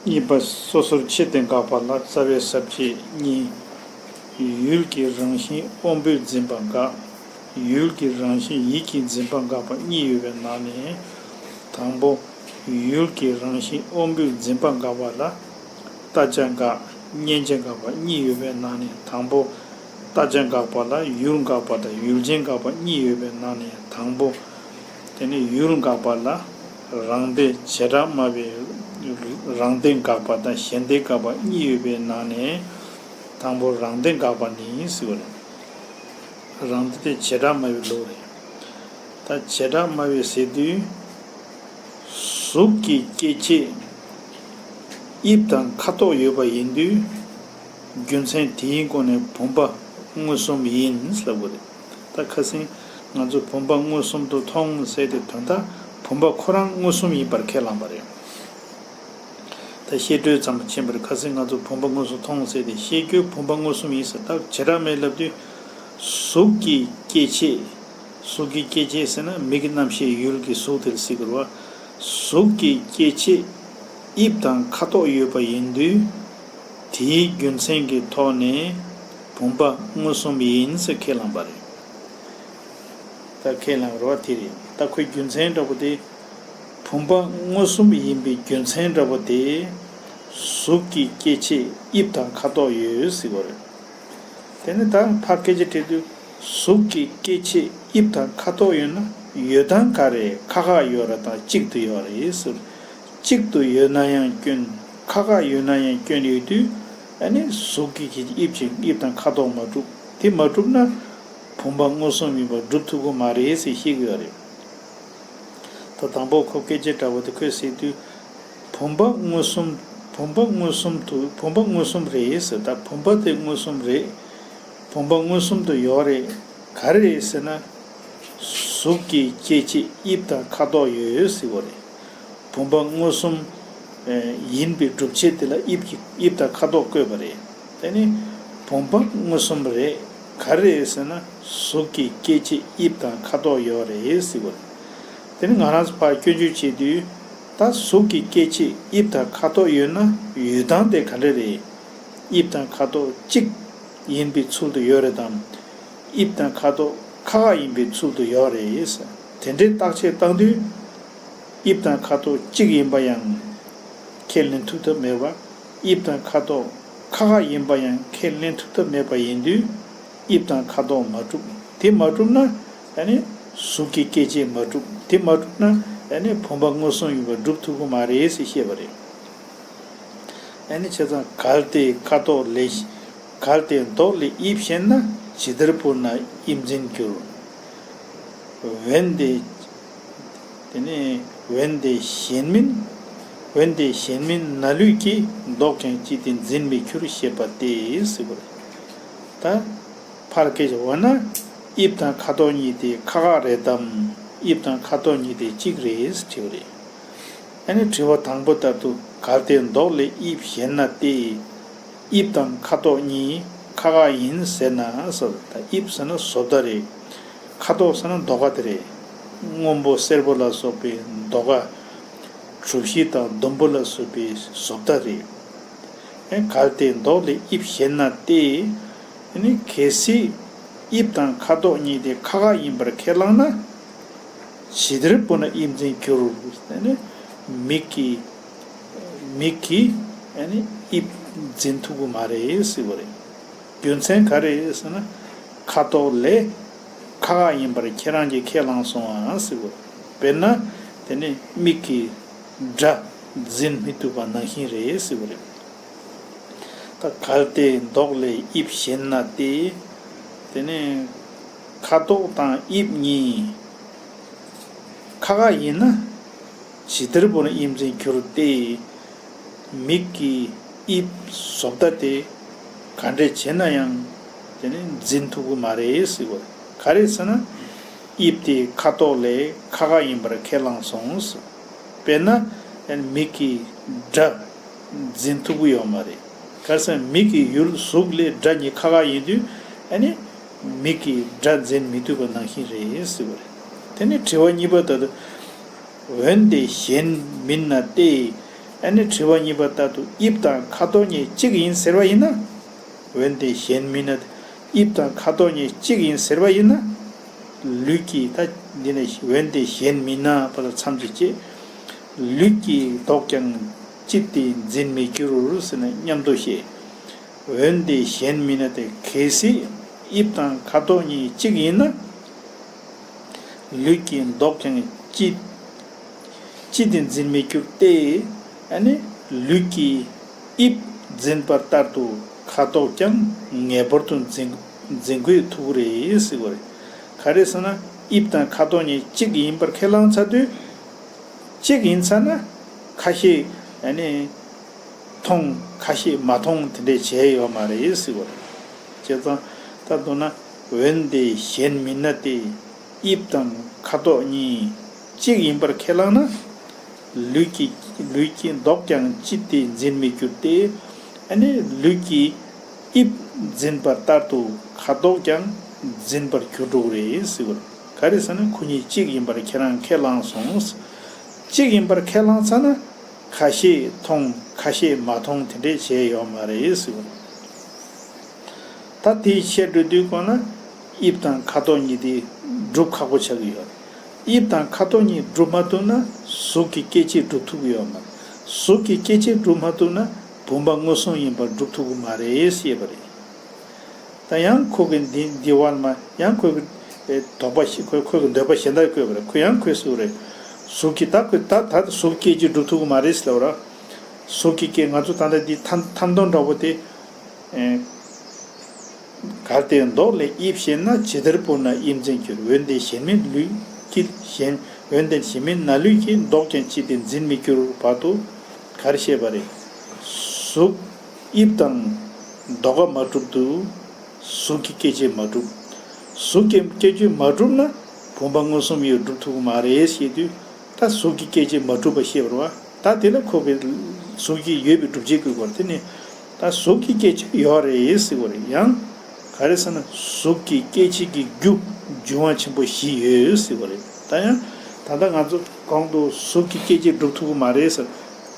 གཉིས་པ། སོ་སོར་ཕྱེ་སྟེ་འགགས་པ་ལ་རྩ་བའི་ཟབ་བཅས་གཉིས། ཡུལ་གྱི་རང་བཞིན་དབང་པོས་འཛིན་པ་འགག། ཡུལ་གྱི་རང་བཞིན་ཡིད་ཀྱིས་འཛིན་པ་འགག་པ་གཉིས་ཡོད་པའི་ནང་ནས། དང་པོ། ཡུལ་གྱི་རང་བཞིན་དབང་པོས་འཛིན་པ་འགག་པ་ལ། ལྟ་བྱ་འགག། མཉན་བྱ་འགག་པ་གཉིས་ཡོད་པའི་ནང་ནས་དང་པོ། རྟ་ཅན་འགག་པ་ལ་ཡུལ་འགག་པ་དང་ཡུལ་ཅན་འགག་པ་གཉིས་ཡོད་པའི་ནང་ནས་དང་པོ་དེ་ནི་ཡུལ་འགག་པ་ལ་རང་སྡེ་བྱེ་བྲག་སྨྲ་བའི་རང་སྡེ་འགག་པ་དང་གཞན་སྡེ་འགག་པ་གཉིས་ཡོད་པའི་ནང་ནས་དང་པོ་རང་སྡེ་འགག་པ་ནི་སྲིད་པ་རེད། རང་སྡེ་དེ་བྱེ་བྲག་སྨྲ་བའི་ལུགས་རེད། ད་བྱེ་བྲག་སྨྲ་བའི་ཟེར་དུས། གཟུགས་ཀྱི་སྐྱེ་མཆེད་དབྱིབས་དང་ཁ་དོག་ཡོད་པ་ཡིན་དུས། རྒྱུ་མཚན་དེའི་སྒོ་ནས་བུམ་པ་མངོན་སུམ་ཡིན་ཟེར་བ་རེད། ད་ཁ་སིང། ང་ཚོས་བུམ་པ་མངོན་སུམ་དུ་མཐོང་ཟེར་ཏེ་དོན་དག་བུམ་པ་ཁོ་རང་མངོན་སུམ་ཡིན་པར་ཁས་བླངས་པ་རེད། ད་བཤད་སྒྲོས་ཙམ་མ་བྱིན་པར་ཁ་སིང་ང་ཚོས་བུམ་པ་མངོན་སུམ་མཐོང་ཟེར་ཏེ་བཤད་རྒྱུའི་བུམ་པ་མངོན་སུམ་ཡིན་ཟེར་སྟབས་བྱེ་བྲག་མེད་ལབ་དུས། གཟུགས་ཀྱི་སྐྱེ་མཆེད། གཟུགས་ཀྱི་སྐྱེ་མཆེད་ཟེར་ན་མིག་གི་རྣམ་ཤེས་ཡུལ་གྱི་གཟུགས་དེར་གཟིགས་དགོས། གཟུགས་ཀྱི་སྐྱེ་མཆེད། དབྱིབས་དང་ཁ་དོག་ཡོད་པ་ཡིན་དུས། དེའི་རྒྱུ་མཚན་གྱི་ཐོག་ནས་བུམ་པ་མངོན་སུམ་ཡིན་ཟེར་ཁས་བླངས་པ་རེད། ད་ཁས་བླངས་རོགས་དེ་རེད་ད་ཁོའི་རྒྱུ་མཚན་འདྲ་པོ་དེ། བུམ་པ་མངོན་སུམ་ཡིན་པའི་རྒྱུ་མཚན་འདྲ་པོ་དེ། གཟུགས་ཀྱི་སྐྱེ་མཆེད་དབྱིབས་དང་ཁ་དོག་ཡོད་ཟེར་བ་རེད། དེ་ནི་ད་ཕར་སྐད་ཆ་དྲིས་དུས་གཟུགས་ཀྱི་སྐྱེ་མཆེད་དབྱིབས་དང་ཁ་དོག་ཡོད་ན་ཡོད་དང་ག་རེ་ཁ་ཁ་ཡོད་ར་དང་གཅིག་ཏུ་ཡོད་རེད་ཟེར། གཅིག་ཏུ་ཡོད་ན་ཡང་སྐྱོན། ཁ་ཁ་ཡོད་ན་ཡང་སྐྱོན་ཡོད་དུས། ཨ་ནི་གཟུགས་ཀྱི་ཁྱེད་ཀྱི་དབྱིབས་ཅན་དབྱིབས་དང་ཁ་དོག་མ་གྲུབ། དེ་མ་གྲུབ་ན། བུམ་པ་མངོན་སུམ་ཡིན་པ་སྒྲུབ་ཐུབ་ཀྱི་མ་རེད་ཟེར་ཤེས་ཀྱི་ཡོད་རེད། ད་དང་པོ་ཁོ་སྐད་ཆ་འདྲ་བོ་དེ་ཁོས་ཟེར་དུས། བུམ་པ་མངོན་སུམ། བུམ་པ་མངོན་སུམ་དུ་བུམ་པ་མངོན་སུམ་རེད་ཟེར་ད་བུམ་པ་དེ་མངོན་སུམ་རེད། བུམ་པ་མངོན་སུམ་དུ་ཡོད་རེད། ག་རེ་རེད་ཟེར་ན། གཟུགས་ཀྱི་ཁྱེད་ཀྱི་དབྱིབས་དང་ཁ་དོག་ཡོད་ཟེར་བ་རེད། བུམ་པ་མངོན་སུམ། ཡིན་པའི་སྒྲུབ་བྱེད་དེ་ལ་དབྱིབས་ཀྱི་དབྱིབས་དང་ཁ་དོག་བཀོད་པ་རེད། དེ་ནི་བུམ་པ་མངོན་སུམ་རེད། ག་རེད་ཟེར་ན་གཟུགས་ཀྱི་སྐྱེ་མཆེད་དབྱིབས་དང་ཁ་དོག་ཡོད་རེད་ཟེར་བ། དེ་ནི་ང་རང་ཚོ་ཕར་སྐྱོན་བརྗོད་བྱེད་དུས་ད་གཟུགས་ཀྱི་སྐྱེ་མཆེད་དབྱིབས་དང་ཁ་དོག་ཡོད་ན་ཡོད་སྟངས་དེ་ག་འདྲ་རེད། དབྱིབས་དང་ཁ་དོག་གཅིག་ཡིན་པའི་ཚུལ་དུ་ཡོད་རེད་དམ། དབྱིབས་དང་ཁ་དོག་ཁག་ཁག་ཡིན་པའི་ཚུལ་དུ་ཡོད་རེད། དེ་འདྲའི་བརྟག་དཔྱད་བཏང་དུས། དབྱིབས་དང་ཁ་དོག་གཅིག་ཡིན་པ་ཡང་ཁས་ལེན་ཐུབ་ཐབས་མེད་པ། དབྱིབས་དང་ཁ་དོག་ཁ་ཁ་ཡིན་པ་ཡང་ཁས་ལེན་ཐུབ་ཐབས་མེད་པ་ཡིན་དུས། དབྱིབས་དང་ཁ་དོག་མ་གྲུབ། དེ་མ་གྲུབ་ན། གཟུགས་ཀྱི་སྐྱེ་མཆེད་མ་གྲུབ། དེ་མ་གྲུབ་ན། བུམ་པ་མངོན་སུམ་ཡིན་པ་སྒྲུབ་ཐུབ་ཀྱི་མ་རེད་ཟེར་ཤེས་པ་རེད། བྱས་ཙང་གལ་ཏེ་ཁ་དོག་ལས། གལ་ཏེ་མདོག་ལས་དབྱིབས་ཤེས་ན། ཇི་ལྟར་བུར་ན་དབྱིབས་འཛིན་འགྱུར། འོན་ཏེ། དེ་ནི་འོན་ཏེ་གཞན་མིན། འོན་ཏེ་གཞན་མིན་ན་ལུས་ཀྱིས་བཟློག་ཀྱང་ཅི་སྟེ་འཛིན་མི་འཁྱུར་ཞེས་པ་སྟེ། ད་བར་སྐད་ཅིག་འོ་ན། དབྱིབས་དང་ཁ་དོག་གཉིས་དེ་ཁ་ཁ་རེད་དམ། དབྱིབས་དང་ཁ་དོག་གཉིས་དེ་གཅིག་རེད་དྲི་བ་རེད། ཨ་ནི་དྲི་བ་དང་པོ་ལྟར་དུ་གར་དེ་བཟློག་ལས་དབྱིབས་གཞན་ན་སྟེ། དབྱིབས་དང་ཁ་དོག་གཉིས་ཁ་ཁ་ཡིན་ཟེར་ན་ཟོ་ད་དབྱིབས་ཟེར་ན་ཟོ་ད་རེད། ཁ་དོག་ཟེར་ན་མདོག་ག་དེ་རེད། སྔོན་པོ་སེར་པོ་ལ་སོགས་པའི་མདོག་ག། གྲུ་བཞི་དང་ཟླུམ་པོ་ལ་སོས་པའི་ཟོ་ད་རེད། ཨེ་གལ་ཏེ་མདོག་ལས་དབྱིབས་བཤད་ན་ཏེ། དེ་ནི་གལ་སྲིད། དབྱིབས་དང་ཁ་དོག་གཉིས་དེ་ཁ་ཁ་ཡིན་པར་ཁས་བླངས་ན། ཇི་ལྟར་བུ་ན་དབྱིབས་འཛིན་འགྱུར། མིག་གི། མིག་གིས་དབྱིབས་འཛིན་ཐུབ་ཀྱི་མ་རེད་ཟེར་གྱི་རེད། རྒྱུ་མཚན་ག་རེད་ཟེར་ན། ཁ་དོག་ལས། ཁ་ཁ་ཡིན་པར་ཁྱེད་རང་གིས་ཁས་བླངས་སོང་ཨང་ཟེར་གྱི་རེད། དཔེར་ན། དེ་ནི་མིག་གིས། སྒྲ། འཛིན་མི་ཐུབ་པ་ནང་བཞིན་རེད་ཟེར་གྱི་རེད། ད་གལ་ཏེ་མདོག་ལས་དབྱིབས་ཞན་ན་སྟེ། དེ་ནི། ཁ་དོག་དང་དབྱིབས་གཉིས། ཁ་ཁ་ཡིན་ན། བྱི་བདེར་བོར་དབྱིབས་འཛིན་གྱུར་ཏེ། མིག་གི་དབྱིབས་བཟོ་བརྡ་དེ་ག་འདྲས་བྱས་ན་ཡང་དེ་ནི་འཛིན་ཐུབ་ཀྱི་མ་རེད། ག་རེ་ཟེར་ན་དབྱིབས་དེ་ཁ་དོག་ལས་ཁ་ཁ་ཡིན་པར་ཁས་བླངས་སོང། དཔེར་ན། མིག་གི་སྒྲ་འཛིན་ཐུབ་ཀྱི་ཡོད་མ་རེད། ག་རེ་ཟེར་ན་མིག་གི་ཡུལ་གཟུགས་ལས་སྒྲ་གཉིས་ཁ་ཁ་ཡིན་དུས། མིག་གིས་སྒྲ་འཛིན་མི་ཐུབ་པ་ནང་བཞིན་རེད། དེ་ནི་དྲི་བ་གཉིས་པ་ལྟར། འོན་ཏེ་གཞན་མིན་ན་སྟེ། ཨ་ནི་དྲི་བ་གཉིས་པ་ལྟར་དུ་དབྱིབས་དང་ཁ་དོག་གཉིས་གཅིག་ཡིན་ཟེར་བ་ཡིན་ན། འོན་ཏེ་གཞན་མིན་ན། དབྱིབས་དང་ཁ་དོག་གཉིས་གཅིག་ཡིན་ཟེར་བ་ཡིན་ན། ལུས་ཀྱི་ད། འདི་ནི་འོན་ཏེ་གཞན་མིན་ན་པ་ལ་མཚམས་ཀྱི་བཅད། ལུས་ཀྱི་དོག་ཀྱང། ཅི་སྟེ་འཛིན་མི་འགྱུར་ཟེར་ན་སྙམ་དུ་ཤེས། འོན་ཏེ་གཞན་མིན་ན་དེ་གལ་སྲིད་དབྱིབས་དང་ཁ་དོག་གཉིས་གཅིག་ཡིན་ན། ལུས་ཀྱིས་འདོགས་ཀྱང་ཅི། ཅི་དེ་འཛིན་མི་འགྱུར་ཏེ། ལུས་ཀྱིས་དབྱིབས་འཛིན་པར་ལྟར་དུ་ཁ་དོག་ཀྱང་ངེས་པར་དུ་འཛིན་དགོས་ཐུག་རེད། ག་རེ་ཟེར་ན་དབྱིབས་དང་ཁ་དོག་གཉིས་གཅིག་ཡིན་པར་ཁས་བླངས་ཚར་དུས། གཅིག་ཡིན་ཚར་ན། ཁ་ཤས། མཐོང། ཁ་ཤས་མ་མཐོང་དེ་འདྲས་བྱས་ཡོད་མ་རེད། ཅེས་ཙང་ལྟར་འདུག་ན། འོན་ཏེ་གཞན་མིན་ན་སྟེ་དབྱིབས་དང་ཁ་དོག་གཉིས་གཅིག་ཡིན་པར་ཁས་བླངས་ན། ལུས་ཀྱི་ལུས་ཀྱི་མདོག་ཀྱང་ཅི་སྟེ་འཛིན་མི་འགྱུར་ཏེ། ནི་ལུས་ཀྱི་དབྱིབས་འཛིན་པ་ལྟར་དུ་ཁ་དོག་ཀྱང་འཛིན་པར་འགྱུར་རོ། ག་རེ་ཟེར་ན་ཁོ་གཉིས་གཅིག་ཡིན་པར་ཁྱེད་རང་ཁས་བླངས་སོང། གཅིག་ཡིན་པར་ཁས་བླངས་ཚར་ན་ཁ་ཤས་མཐོང་ཁ་ཤས་མ་མཐོང་དེ་འདྲས་བྱས་ཡོད་མ་རེད། ད་དེའི་བཤད་སྒྲོས་བསྡུས་དགོས་ན། དབྱིབས་དང་ཁ་དོག་གཉིས་དེ་སྒྲུབ་ཁག་པོ་ཆགས་ཀྱི་ཡོད། དབྱིབས་དང་ཁ་དོག་གཉིས་སྒྲུབ་མ་ཐུབ་ན་གཟུགས་ཀྱི་སྐྱེ་མཆེད་སྒྲུབ་ཐུབ་ཀྱི་ཡོད། གཟུགས་ཀྱི་སྐྱེ་མཆེད་སྒྲུབ་མ་ཐུབ་ན་བུམ་པ་དངོས་བཟུང་ཡིན་པར་སྒྲུབ་ཐུབ་ཀྱི་མ་རེད་ཞེས་པ་རེད། ད་ཡང་ཁོ་གི་འདི་འདི་བར་མ་ཡང་ཁོ་གི་དོགས་པ་ཞིག་ཁོ་གི་འདོད་པ་གཞན་དག་བཀོད་པ་རེད་ཁོ་ཡང་ཁོའི་གཟུགས་རེད། གཟུགས་ཀྱི་ད་ཁོས་ད་ད་གཟུགས་སྐྱེ་མཆེད་སྒྲུབ་ཐུབ་ཀྱི་མ་རེད་ཟེར་བ་རེད། གཟུགས་ཀྱི་སྐྱེ་ང་ཚོ་ད་ལྟ་འདི་ཐམ་ཐམ་སྟོང་འདྲ་བོ་དེ། གར་ལྟའི་མདོག་ལས་དབྱིབས་ཤེས་ན་ཇི་ལྟར་བུར་ན་དབྱིབས་འཛིན་འགྱུར་འོན་ཏེ་གཞན་མིན་ལུས་ཀྱི་གཞན་འོན་ཏེ་གཞན་མིན་ན་ལུས་ཀྱི་མདོག་ཀྱང་ཅི་སྟེ་འཛིན་མི་འགྱུར་བར་དུ་གར་ཤེས་པ་རེད། གཟུགས་དབྱིབས་དང་མདོག་ཀ་མ་གྲུབ་ཏུ་གཟུགས་ཀྱི་སྐྱེ་མཆེད་མ་གྲུབ། གཟུགས་ཀྱི་སྐྱེ་མཆེད་མ་གྲུབ་ན་བུམ་པ་མངོན་སུམ་ཡོད་གྲུབ་ཐུབ་ཀྱི་མ་རེད་ཞེས་དུས་ད་གཟུགས་ཀྱི་སྐྱེ་མཆེད་མ་གྲུབ་པ་ཤེས་པར་བ་ད་དེ་ལ་ཁོ་བོས་གཟུགས་ཀྱི་ཡོད་པའི་སྒྲུབ་བྱེད་ཀྱི་སྐོར་དེ་ནི། ད་གཟུགས་ཀྱི་སྐྱེད་བྱེད་ཡོད་རེད་ཟེར་བ་རེད་ཡང། ག་རེ་ཟེར་ན་གཟུགས་ཀྱི་སྐྱེད་བྱེད་ཀྱི་རྒྱུ་འབྱུང་བ་ཆེན་པོ་བཞི་ཡོད་ཟེར་བ་རེད་ད་ཡང། ད་ལྟ་ང་ཚོ་གོང་དུ་གཟུགས་ཀྱི་སྐྱེད་བྱེད་སྒྲུབ་ཐུབ་ཀྱི་མ་རེད་ཟེར།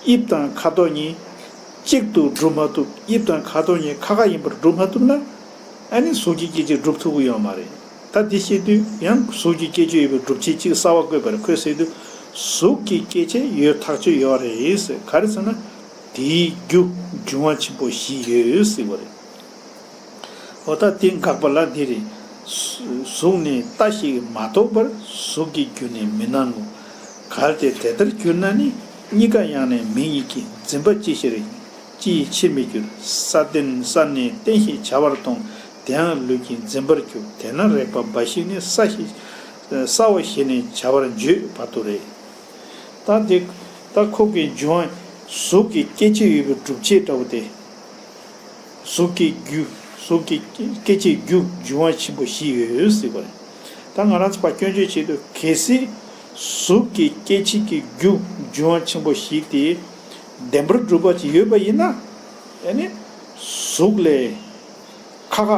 དབྱིབས་དང་ཁ་དོག་གཉིས་གཅིག་ཏུ་སྒྲུབ་མ་ཐུབ་དབྱིབས་དང་ཁ་དོག་གཉིས་ཁ་ཁ་ཡིན་པར་སྒྲུབ་མ་ཐུབ་ན། ཨ་ནི་གཟུགས་ཀྱི་སྐྱེད་བྱེད་སྒྲུབ་ཐུབ་ཀྱི་ཡོད་མ་རེད། ད་འདི་ཤེས་དུས་ཡང་གཟུགས་ཀྱི་སྐྱེད་བྱེད་ཡོད་པའི་སྒྲུབ་བྱེད་གཅིག་གསར་བ་བཀོད་པ་རེད་ཁོས་ཟེར་དུས་གཟུགས་ཀྱི་སྐྱེད་བྱེད་ཡོད་ཐག་ཆོད་ཡོད་རེད་ཟེར་ག་རེ་ཟེར་ན། དེའི་རྒྱུ་འབྱུང་བ་ཆེན་པོ་བཞི་ཡོད་ཡོད་སྲིད་པ་རེད། འོ་ད་དེ་འགག་པ་ལ་དེ་རེད། གཟུགས་ནི་ལྟ་ཞིག་མ་གཏོགས་པར་གཟུགས་ཀྱི་རྒྱུ་ནི་མི་སྣང་ངོ། གལ་ཏེ་དེ་ལྟར་གྱུར་ན་ནི་གཉིས་ཀ་ཡང་ནས་མིང་ཡིན་གྱི་འཛིན་པ་ཅི་ཞིག་རེད་ཀྱང་ཅི་ཡི་ཕྱིར་མི་འགྱུར། ས་བརྟེན་ས་ནི་རྟེན་ཞེས་བྱ་བར་མཐོང་དེའང་ལུས་ཀྱི་འཛིན་པར་གྱུར་དེས་ན་རེག་པ་འབའ་ཞིག་ནི་ས་ཞེས་ས་བ་ཞེས་ནས་བྱ་བར་བརྗོད་བར་དུ་རེད། ལྟ་དེ། ལྟ་ཁོག་གི་འབྱུང། གཟུགས་ཀྱི་སྐྱེ་མཆེད་ཡོད་པའི་སྒྲུབ་བྱེད་ལྟ་བུ་སྟེ། གཟུགས་ཀྱི་རྒྱུ། གཟུགས་ཀྱི་སྐྱེ་མཆེད་རྒྱུ་འབྱུང་བ་ཆེན་པོ་བཞི་ཡོད་སྲིད་པ་རེད། ད་ང་རང་ཚོ་བ་སྐྱོན་བརྗོད་བྱེད་དུ་གལ་སྲིད། གཟུགས་ཀྱི་སྐྱེ་མཆེད་ཀྱི་རྒྱུ་འབྱུང་བ་ཆེན་པོ་བཞི་དེ། བདེན་པར་སྒྲུབ་པ་ཅིག་ཡོད་པ་ཡིན་ན། དེ་ནི། གཟུགས་ལས། ཁ་ཁ།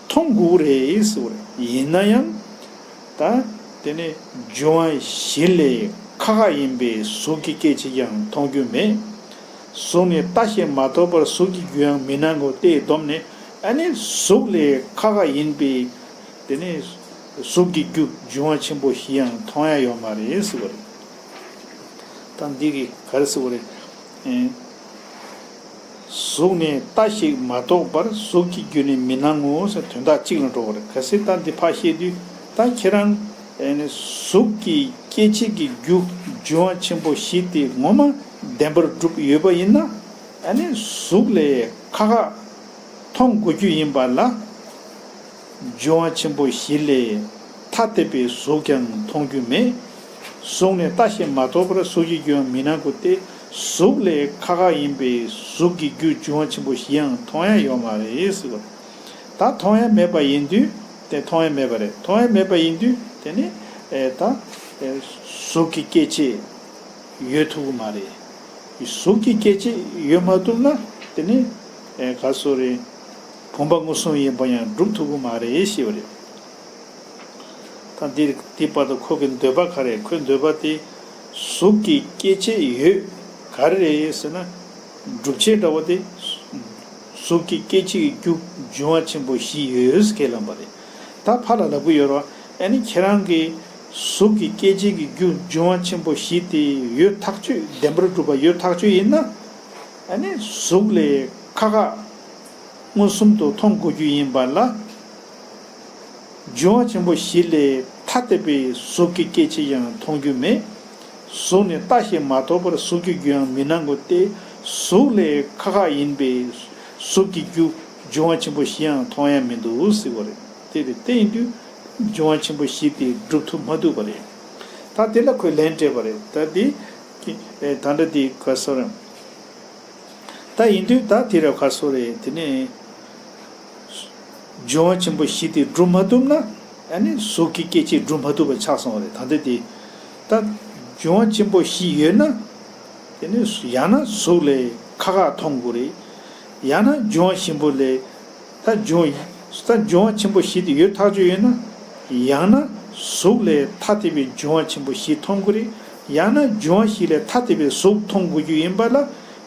མཐོང་དགོས་རེད་ཟེར་བ་རེད། ཡིན་ན་ཡང། དང། དེ་ནི་རྒྱུ་དབང་བཞི་ལས་ཁ་ཁ་ཡིན་པས་གཟུགས་ཀྱི་སྐད་ཅིག་ཀྱང་མཐོང་རྒྱུ་མེད། གཟུགས་ནི་ལྟ་བྱེད་མ་ཐོབ་པར་གཟུགས་ཀྱི་རྒྱུའང་མི་སྣང་ངོ་སྟེ་སྡོམ་ནི་ཨ་ནི་གཟུགས་ལས་ཁ་ཁ་ཡིན་པས། དེ་ནི་གཟུགས་ཀྱི་རྒྱུ་རྒྱུ་དབང་ཆེན་པོ་བཞིའང་མཐོང་ཡང་ཡོད་མ་རེད་ཟེར་བ་རེད། དང། འདི་གིས་ག་རེ་ཟེར་བ་རེད། གཟུགས་ནི་རྟ་ཞིག་མ་གཏོགས་པར་གཟུགས་ཀྱི་རྒྱུ་ནི་མི་སྣང་ངོ་ཞེས་དོན་དག་གཅིག་ལ་འགྲོ་བར་ག་སྲིད་རྟ་འདི་ཕག་ཤེད་དུས་ད་ཁྱེད་རང། གཟུགས་ཀྱི་སྐྱེ་མཆེད་ཀྱི་རྒྱུ་འབྱུང་བ་ཆེན་པོ་བཞི་སྟེ་ངོ་མ་བདེན་པར་བསྒྲུབས་ཡོད་པ་ཡིན་ན། གཟུགས་ལས་ཁ་ཁ་མཐོང་དགོས་རྒྱུ་ཡིན་པ་ལ། འཇུ་བ་ཆེན་པོ་བཞི་ལས་ཐ་དད་པའི་གཟུགས་ཀྱང་མཐོང་རྒྱུ་མེད། གཟུགས་ནི་ལྟ་ཞིང་མ་རྟོགས་པར་གཟུགས་ཀྱི་རྒྱུའང་མི་སྣང་གོ་སྟེ་གཟུགས་ལས་ཁ་ཁ་ཡིན་པས་གཟུགས་ཀྱི་རྒྱུ་འཇུ་བ་ཆེན་པོ་བཞིའང་མཐོང་ཡང་ཡོད་མ་རེད། ད་མཐོང་ཡང་མེད་པ་ཡིན་དུས་དེ་མཐོང་ཡང་མེད་པ་རེད་མཐོང་ཡང་མེད་པ་ཡིན་དུས་དེ་ནི་ད་གཟུགས་ཀྱི་སྐྱེ་མཆེད་ཡོད་ཐུབ་ཀྱི་མ་རེད། གཟུགས་ཀྱི་སྐྱེ་མཆེད་ཡོད་མ་ཐུབ་ན་དེ་ནི་ག་སོ་རེད། བུམ་པ་མངོན་སུམ་ཡིན་པ་ཡང་སྒྲུབ་ཐུབ་ཀྱི་མ་རེད་ཞེས་པ་རེད། ད་འདི་བར་དུ་ཁོ་གི་འདོད་པ་ག་རེད་ཁོས་འདོད་པ་དེ་གཟུགས་ཀྱི་སྐྱེ་མཆེད་ཡོད་ག་རེ་རེད་ཟེར་ན། སྒྲུབ་བྱེད་འདྲ་བོ་དེ། གཟུགས་ཀྱི་སྐྱེ་མཆེད་ཀྱི་རྒྱུ་འབྱུང་བ་ཆེན་པོ་བཞི་ཡོད་ཁས་བླངས་པ་རེད། ད་ཕར་ལ་ལབ་ཀྱི་ཡོད་རོགས་ཨེ་ནི་ཁྱེད་རང་གིས་གཟུགས་ཀྱི་སྐྱེ་མཆེད་ཀྱི་རྒྱུ་འབྱུང་བ་ཆེན་པོ་བཞི་དེ་ཡོད་ཐག་ཆོད་བདེན་པར་སྒྲུབ་པ་ཡོད་ཐག་ཆོད་ཡིན་ན། ཨེ་ནི་གཟུགས་ལས་ཁ་ཁ། མངོན་སུམ་དུ་མཐོང་དགོས་རྒྱུ་ཡིན་པ་ལ། འབྱུང་བ་ཆེན་པོ་བཞི་ལས་ཐ་དད་པའི་གཟུགས་ཀྱི་སྐྱེ་མཆེད་ཡང་མཐོང་རྒྱུ་མེད། གཟུགས་ནི་ལྟ་ཞིང་མ་རྟོགས་པར་གཟུགས་ཀྱི་རྒྱུ་ཡང་མི་སྣང་ངོ་སྟེ། གཟུགས་ལས་ཁ་ཁ་ཡིན་པས་གཟུགས་ཀྱི་རྒྱུ་འབྱུང་བ་ཆེན་པོ་བཞི་ཡང་མཐོང་ཡ་མི་འདུག་ཟེར་བ་རེད་དེ། དེ་ལྟ་ཡིན་དུས་འབྱུང་བ་ཆེན་པོ་བཞི་དེ་སྒྲུབ་ཐུབ་མ་ཐུབ་པ་རེད། ད་དེ་ལ་ཁོས་ལན་སྤྲད་པ་རེད། ད་དེ། ད་འདྲ་དེ་ག་ཟེར། ད་ཡིན་དུས་ད་དེ་རབས་ཁ་སོ་རེད་དེ་ནས། ཇོ་བོ་ཆེན་པོ་བཞི་དེ་སྒྲུབ་མ་ཐུབ་ན། ཡང་ནི་གཟུགས་ཀྱི་སྐྱེ་མཆེད་སྒྲུབ་མ་ཐུབ་པ་ཆགས་སོང་རེད་ད་ལྟ་དེ། ད་ཇོ་བོ་ཆེན་པོ་བཞི་ཡོད་ན། དེ་ནས་ཡང་ན་གཟུགས་ལས་ཁ་ཁ་མཐོང་དགོས་རེད། ཡང་ན་ཇོ་བོ་ཆེན་པོ་ལས། ལྷ་སྦྱོང་ཡིན་ས་སྦྱོང་བ་ཆེན་པོ་བཞི་དེ་ཡོད་ཐག་ཆོད་ཡོད་ན། ཡང་ན། གཟུགས་ལས་ཐ་དད་པའི་སྦྱོང་བ་ཆེན་པོ་བཞི་མཐོང་དགོས་རེད། ཡང་ན་སྦྱོང་བ་བཞི་ལས་ཐ་དད་པའི་གཟུགས་མཐོང་དགོས་རྒྱུ་ཡིན་པ་ལ།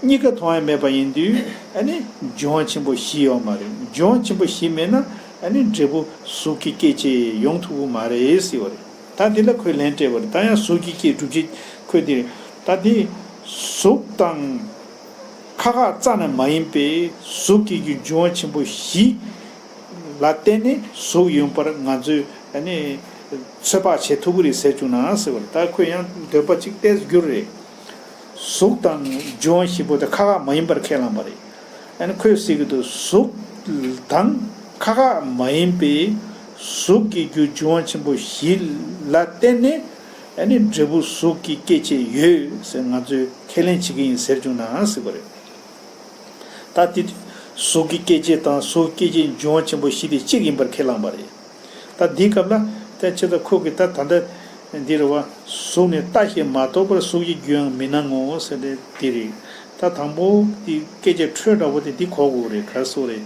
གཉིས་ཀ་མཐོང་ཡ་མེད་པ་ཡིན་དུས། ཨ་ནི། སྦྱོང་བ་ཆེན་པོ་བཞི་ཡོག་མ་རེད་སྦྱོང་བ་ཆེན་པོ་བཞི་མེད་ན། ཨ་ནི་འབྲས་བུ་གཟུགས་ཀྱི་སྐྱེད་བྱེད་ཡོང་ཐུབ་པོ་མ་རེད་ཟེར་བ་རེད། ད་འདི་ལ་ཁོས་ལན་སྤྲད་པ་རེད་ད་ཡང་གཟུགས་ཀྱི་སྐྱེད་སྒྲུབ་བྱེད་ཁོས་འདི་རེད། ད་དེ། གཟུགས་དང། ཁ་ཁ་རྩ་ནས་མ་ཡིན་པའི་གཟུགས་ཀྱི་རྒྱུ་འབྱུང་བ་ཆེན་པོ་བཞི། ལ་བརྟེན་ནས་གཟུགས་ཡོད་པར་ང་ཚོས་ནི། ཚོད་དཔག་བྱེད་ཐུབ་ཀྱི་རེད་ཟེར་བཅུག་ན་ཟེར་བ་ལ་ད་ཁོས་ཡང་འདོད་པ་ཅིག་བསྟན་རྒྱུ་རེད། གཟུགས་དང་འབྱུང་བ་བཞི་པོ་དེ་ཁ་ཁ་མ་ཡིན་པར་ཁས་བླངས་པ་རེད། ཨ་ནི་ཁོས་ཟེར་གྱི་འདུག་གཟུགས་དང་ཁ་ཁ་མ་ཡིན་པའི་གཟུགས་ཀྱི་རྒྱུ་འབྱུང་བ་ཆེན་པོ་བཞི། ལ་བརྟེན་ནས། ཨ་ནི་འབྲས་བུ་གཟུགས་ཀྱི་སྐྱེད་བྱེད་ཡོད་ཟེར་ང་ཚོས་ཁས་ལེན་བྱེད་ཀྱི་ཡིན་ཟེར་བྱུང་ནའང་སྲིད་པ་རེད། ད་དེ་དུས་གཟུགས་ཀྱི་སྐྱེད་བྱེད་དང་གཟུགས་སྐྱེད་བྱེད་འབྱུང་བ་ཆེན་པོ་བཞི་དེ་གཅིག་ཡིན་པར་ཁས་བླངས་པ་རེད། ད་འདིའི་སྐབས་ལ་ཐལ་ཆེ་ད་ཁོ་གིས་ད་ད་ལྟ་འདི་རེད་བ། གཟུགས་ནི་ལྟ་ཞེས་མ་རྟོགས་པར་གཟུགས་ཀྱི་རྒྱུའང་མི་སྣང་ངོ་ཟེར་ཏེ་འདི་རེད། ད་དང་པོ་འདི་སྐད་ཆའི་འཕྲོས་འདྲ་བོ་དེ་འདི་གོ་དགོས་རེད་གར་སོ་རེད།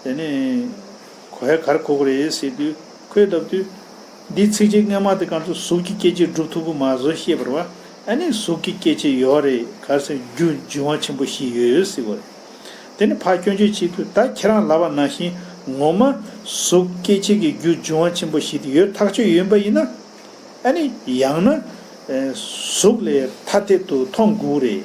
དེ་ནས་གོ་ཧའི་གར་གོ་དགོས་རེད་ཟེར་དུས། ཁོས་བརྡབ་དུས། འདིའི་ཚིག་རྗེས་སྔས་མ་དེ་གར་སོང་གཟུགས་ཀྱི་སྐྱེ་མཆེད་བསྒྲུབ་ཐུབ་ཀྱི་མ་བཟོ་ཤེས་པར་བ་ཨ་ནི་གཟུགས་ཀྱི་སྐྱེ་མཆེད་ཡོད་རེད་གར་སོང་རྒྱུ་འབྱུང་བ་ཆེན་པོ་ཞིག་ཡོད་སྲིད་པ་རེད། དེ་ནི་ཕ་སྐྱོན་བརྗོད་བྱེད་དུས་ད་ཁྱེད་རང་ལབ་པ་ནང་བཞིན་ངོ་མ་གཟུགས་སྐྱེ་མཆེད་ཀྱི་རྒྱུ་འབྱུང་བ་ཆེན་པོ་ཞིག་དེ་ཡོད་ཐག་ཆོད་ཡིན་པ་ཡིན་ན། ཨ་ནི་ཡང་ན། གཟུགས་ལས་ཐ་དད་དུ་མཐོང་དགོས་རེད།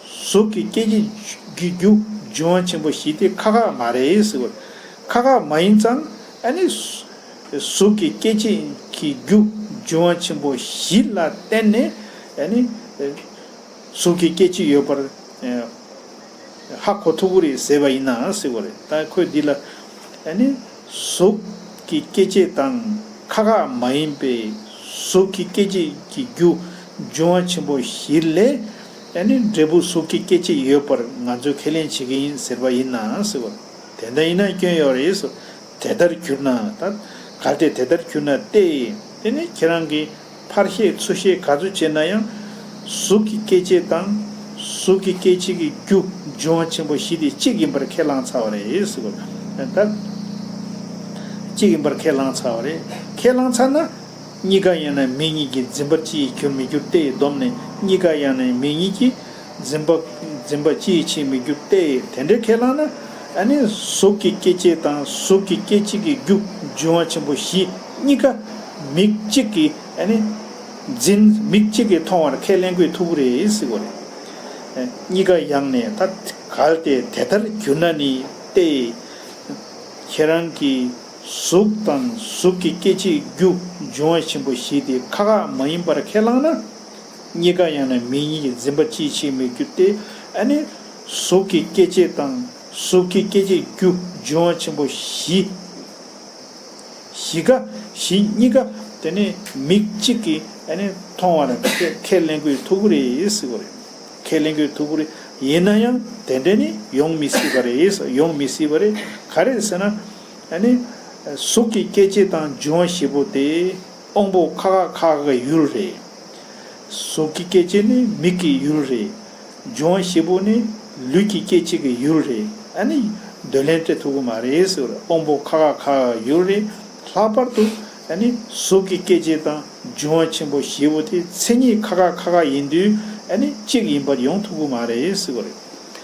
གཟུགས་ཀྱི་སྐྱེ་འཆི། རྒྱུ་རྒྱུ་འབྱུང་ཆེན་པོ་བཞི་སྟེ་ཁ་ཁ་མ་རེད་ཟེར་བ། ཁ་ཁ་མ་ཡིན་ཙང། ཨ་ནི། གཟུགས་ཀྱི་སྐྱེ་འཆི། གི་རྒྱུ་འབྱུང་ཆེན་པོ་བཞི་ལ་བརྟེན་ནས། ཨ་ནི། གཟུགས་ཀྱི་སྐྱེ་འཆི་ཡོད་པར། ཧ་གོ་ཐུབ་པོ་རེད་ཟེར་བ་ཡིན་ནའང་སྲིད་པ་རེད། ད་ཁོས་འདི་ལ། ཨ་ནི། གཟུགས་ཀྱི་སྐྱེ་འཆི་དང་ཁ་ཁ་མ་ཡིན་པའི་གཟུགས་ཀྱི་སྐྱེ་འཆི་གི་རྒྱུ་འབྱུང་ཆེན་པོ་བཞི་ལས། ཨ་ནི་འབྲས་བུ་གཟུགས་ཀྱི་སྐྱེ་མཆེད་ཡོད་པར་ང་ཚོས་ཁས་ལེན་བྱེད་ཀྱི་ཡིན་ཟེར་བ་ཡིན་ནའང་སྲིད་པ། དེ་འདྲ་ཡིན་ན་སྐྱོན་ཡོད་རེད་ཟེར། དེ་ལྟར་གྱུར་ན་དང། གལ་ཏེ་དེ་ལྟར་གྱུར་ན་སྟེ། དེ་ནི་ཁྱེད་རང་གིས་ཕར་ཤེས་ཚུར་ཤེས་ག་ཚོད་བྱས་ན་ཡང། གཟུགས་ཀྱི་སྐྱེ་མཆེད་དང། གཟུགས་ཀྱི་སྐྱེ་མཆེད་ཀྱི་རྒྱུ་འབྱུང་བ་ཆེན་པོ་བཞི་དེ་གཅིག་ཡིན་པར་ཁས་བླངས་ཚར་བ་རེད་ཟེར་བ། གཅིག་ཡིན་པར་ཁས་བླངས་ཚར་བ་རེད། ཁས་བླངས་ཚར་ན། གཉིས་ཀ་ཡང་ནི་མིག་གཉིས་ཀྱིས་འཛིན་པ་ཅི་ཡིས་གྱུར་མི་འགྱུར་ཏེ་སྡོམ་ནི་གཉིས་ཀ་ཡང་ནི་མིག་གཉིས་ཀྱིས་འཛིན་པ་འཛིན་པ་ཅི་ཡིས་བྱེད་མི་འགྱུར་ཏེ་དེ་འདྲའི་ཁས་བླངས་ན་ནི་གཟུགས་ཀྱི་སྐྱེ་མཆེད་དང་གཟུགས་ཀྱི་སྐྱེ་མཆེད་ཀྱི་རྒྱུ་འབྱུང་བ་ཆེན་པོ་བཞི་གཉིས་ཀ་མིག་གཅིག་གིས་ནི་འཛིན་མིག་གཅིག་གིས་མཐོང་བར་ཁས་ལེན་གོས་མཐུ་བོ་རེ་སྲིད་གོ། གཉིས་ཀ་ཡང་ནི་ད་གལ་ཏེ་དེ་ལྟར་གྱུར་ན་ནི་ཏེ། ཁྱེད་རང་གིས། གཟུགས་དང་གཟུགས་ཀྱི་སྐྱེ་མཆེད་རྒྱུ་འབྱུང་བ་ཆེན་པོ་བཞི་དེ་ཁ་ཁ་མ་ཡིན་པར་ཁས་བླངས་ན། གཉིས་ཀ་ཡང་ན་མིག་གཉིས་ཀྱི་འཛིན་པ་ཅིའི་ཕྱིར་མེད་རྒྱུ་སྟེ། ཨ་ནི། གཟུགས་ཀྱི་སྐྱེ་མཆེད་དང་གཟུགས་ཀྱི་སྐྱེ་མཆེད་རྒྱུ་འབྱུང་བ་ཆེན་པོ་བཞི། བཞི་ཀ་བཞི་གཉིས་ཀ་དེ་ནི་མིག་གཅིག་གིས་ཨ་ནི་མཐོང་བར་ཁས་ལེན་དགོས་ཐུག་གོ་རེད། ཁས་ལེན་དགོས་ཐུག་གོ་རེད། ཡིན་ན་ཡང་དེ་འདྲ་ནི་ཡོང་མི་སྲིད་པ་རེད། ཡོང་མི་སྲིད་པ་རེད་ག་རེད་ཟེར་ན། གཟུགས་ཀྱི་སྐྱེ་མཆེད་དང་འབྱུང་བ་བཞི་པོ་དེ་དབང་པོ་ཁ་ཁ་ཁ་ཁའི་ཡུལ་རེད། གཟུགས་ཀྱི་སྐྱེ་མཆེད་ནི་མིག་གི་ཡུལ་རེད། འབྱུང་བ་བཞི་པོ་ནི་ལུས་ཀྱི་སྐྱེ་མཆེད་ཀྱི་ཡུལ་རེད། འདོད་ལན་སྤྲད་ཐུབ་ཀྱི་མ་རེད། དབང་པོ་ཁ་ཁ་ཁ་ཁའི་ཡུལ་རེད། ལྷག་པར་དུ། གཟུགས་ཀྱི་སྐྱེ་མཆེད་དང་འབྱུང་བ་ཆེན་པོ་བཞི་པོ་དེ་མཚན་ཉིད་ཁ་ཁ་ཁ་ཁ་ཡིན་དུས་གཅིག་ཡིན་པར་ཡོང་ཐུབ་ཀྱི་མ་རེད།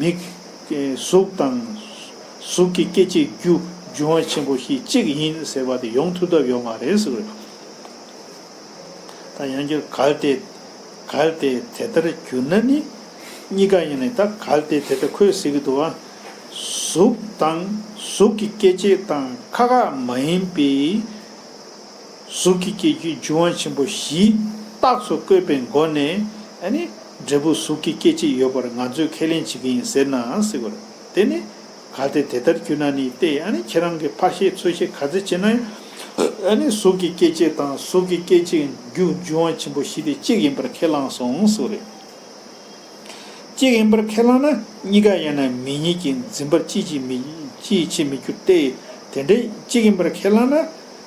མིག། གཟུགས་དང། གཟུགས་ཀྱི་སྐད་ཅིག་རྒྱུ་འབྱུང་བ་ཆེན་པོ་ཞིག་གཅིག་ཡིན་ཟེར་བ་དེ་ཡོང་ཐུབ་ཐབས་ཡོད་མ་རེད་ཟེར་བས། ད་ཡང་བསྐྱར་གལ་ཏེ། གལ་ཏེ་དེ་ལྟར་གྱུར་ན་ནི། གཉིས་ཀ་ཡིན་ནི་ད་གལ་ཏེ་དེ་ལྟར་ཁོས་ཟེར་གྱི་འདུག་ཨ། གཟུགས་དང། གཟུགས་ཀྱི་སྐད་ཅིག་དང་ཁ་ཁ་མ་ཡིན་པའི། གཟུགས་ཀྱི་སྐྱེ་རྒྱུའི་རྒྱུན་དབང་ཆེན་པོ་བཞིའི་རྟགས་སུ་བཀོད་པའི་སྒོ་ནས། འབྲས་བུ་གཟུགས་ཀྱི་སྐྱེ་མཆེད་ཡོད་པར་ང་ཚོས་ཁས་ལེན་བྱེད་ཀྱི་ཡིན་ཟེར་ནའང་སྲིད། དེ་ནི་གལ་ཏེ་དེ་ལྟར་གྱུར་ན་ནི་སྟེ། ཁྱེད་རང་གིས་ཕར་ཤེས་ཚུར་ཤེས་ག་ཚོད་བྱས་ན་ཡང། གཟུགས་ཀྱི་སྐྱེ་མཆེད་དང་གཟུགས་ཀྱི་སྐྱེ་མཆེད་རྒྱུ་རྒྱུན་དབང་ཆེན་པོ་བཞི་དེ་གཅིག་ཡིན་པར་ཁས་བླངས་སོང་ཟེར། གཅིག་ཡིན་པར་ཁས་བླངས་ན་གཉིས་ཀ་ཡང་ན་མི་གཉིས་ཀྱི་འཛིན་པ་ཅིས་བྱེད་མི་འགྱུར་ཏེ། དེ་འདྲའི་གཅིག་ཡིན་པར་ཁས་བླངས་ན།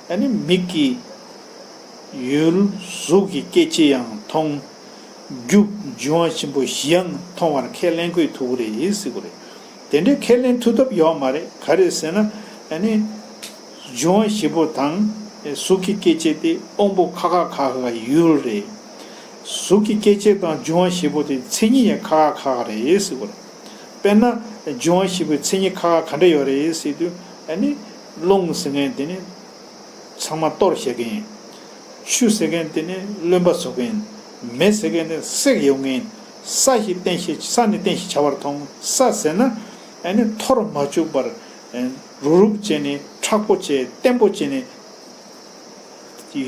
ད་ནི་མིག་གིས་ཡུལ་གཟུགས་ཀྱི་སྐད་ཅི་ཡང་མཐོང། རྒྱུ་འབྱུང་བ་ཆེན་པོ་བཞི་ཡང་མཐོང་བར་ཁས་ལེན་ཁོས་ཐུག་གོ་རེད་ཡིན་སྲིད་གོ་རེད། དེ་འདྲའི་ཁས་ལེན་ཐུག་ཐབས་ཡོག་མ་རེད་ག་རེད་ཟེར་ན། ད་ནི་འབྱུང་བ་བཞི་པོ་དང། གཟུགས་ཀྱི་སྐྱེ་མཆེད་དེ་དབང་པོ་ཁ་ཁ་ཁ་ཁ་ཡུལ་རེད། གཟུགས་ཀྱི་སྐྱེ་མཆེད་དང་འབྱུང་བ་བཞི་པོ་དེ་མཚན་ཉིད་ཡང་ཁ་ཁ་ཁ་ཁ་རེད་ཡིན་སྲིད་གོ་རེད། དཔེར་ན། འབྱུང་བ་བཞི་པོའི་མཚན་ཉིད་ཁ་ཁ་ག་འདྲ་ཡོད་རེད་ཡིན་སྲིད་དུས། ད་ནི། རླུང་ཟེར་མཁན་དེ་ནི་ཚང་མ་གཏོར་བཤད་མཁན་ཡིན། ཆུ་ཟེར་མཁན་དེ་ནི་རློན་པ་བཟོ་མཁན་ཡིན། མེ་ཟེར་མཁན་དེ་ནི་སྲེག་ཡོང་མཁན་ཡིན། ས་ཞེས་བསྟན་ཞེས་ས་ནི་བསྟན་ཞེས་བྱ་བར་མཐོང། ས་ཟེར་ན། ཨེ་ནི་འཐོར་མ་བཅུག་པར། རུབ་རུབ་ཅན་ནི་ཁྲག་པོ་ཅན་བརྟན་པོ་ཅན་ནི།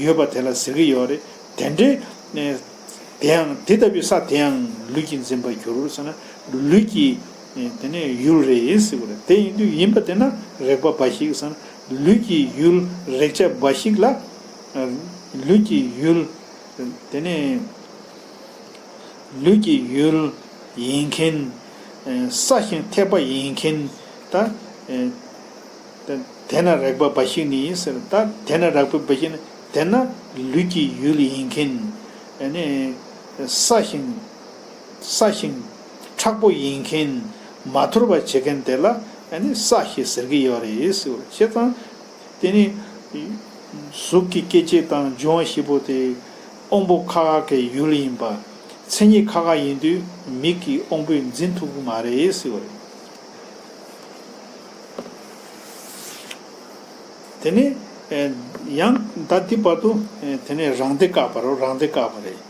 ཡོད་པ་དེ་ལ་ཟེར་གྱི་ཡོད་རེད། དེ་འདྲའི། དེའང་དེ་ལྟ་བུའི་ས་དེའང་ལུས་ཀྱིས་འཛིན་པར་འགྱུར་ཟེར་ན། ལུས་ཀྱིས། དེ་ནས་ཡུལ་རེ་ཡིན་སྲིད་པ་རེད་དེ་ཡིན་དུས་ཡིན་པ་དེ་ན་རེག་པ་འབའ་ཞིག་སམ་ལུས་ཀྱི་ཡུལ་རེག་བྱ་འབའ་ཞིག་ལ། ལུས་ཀྱི་ཡུལ། དེ་ནས། ལུས་ཀྱི་ཡུལ། ཡིན་མཁན། ས་ཞིང་ཐེག་པ་ཡིན་མཁན། ད། དེ་ན་རེག་པ་འབའ་ཞིག་ནི་ཡིན་ཟེར་ད་དེ་ན་རག་པའི་འབའ་ཞིག་ནི་དེ་ན་ལུས་ཀྱི་ཡུལ་ཡིན་མཁན། ས་ཞིང། ས་ཞིང། དྲག་པོ་ཡིན་མཁན། མ་ཐོར་བ་བྱེད་མཁན་དེ་ལ་ས་ཞེས་ཟེར་གྱི་ཡོད་རེད། བྱས་ཙང། དེ་ནི། གཟུགས་ཀྱི་སྐྱེ་མཆེད་དང་འབྱུང་བ་བཞི་པོ་དེ། དབང་པོ་ཁ་ཁ་གའི་ཡུལ་ཡིན་པ། མཚན་ཉིད་ཁ་ཁ་ཡིན་དུས་མིག་གི་དབང་པོས་འཛིན་ཐུབ་ཀྱི་མ་རེད། དེ་ནས། ཡང་ད་ལྟའི་བར་དུ། དེ་ནས་རང་སྡེ་བཀག་པ་རོ་རང་སྡེ་བཀག་པ་རེད།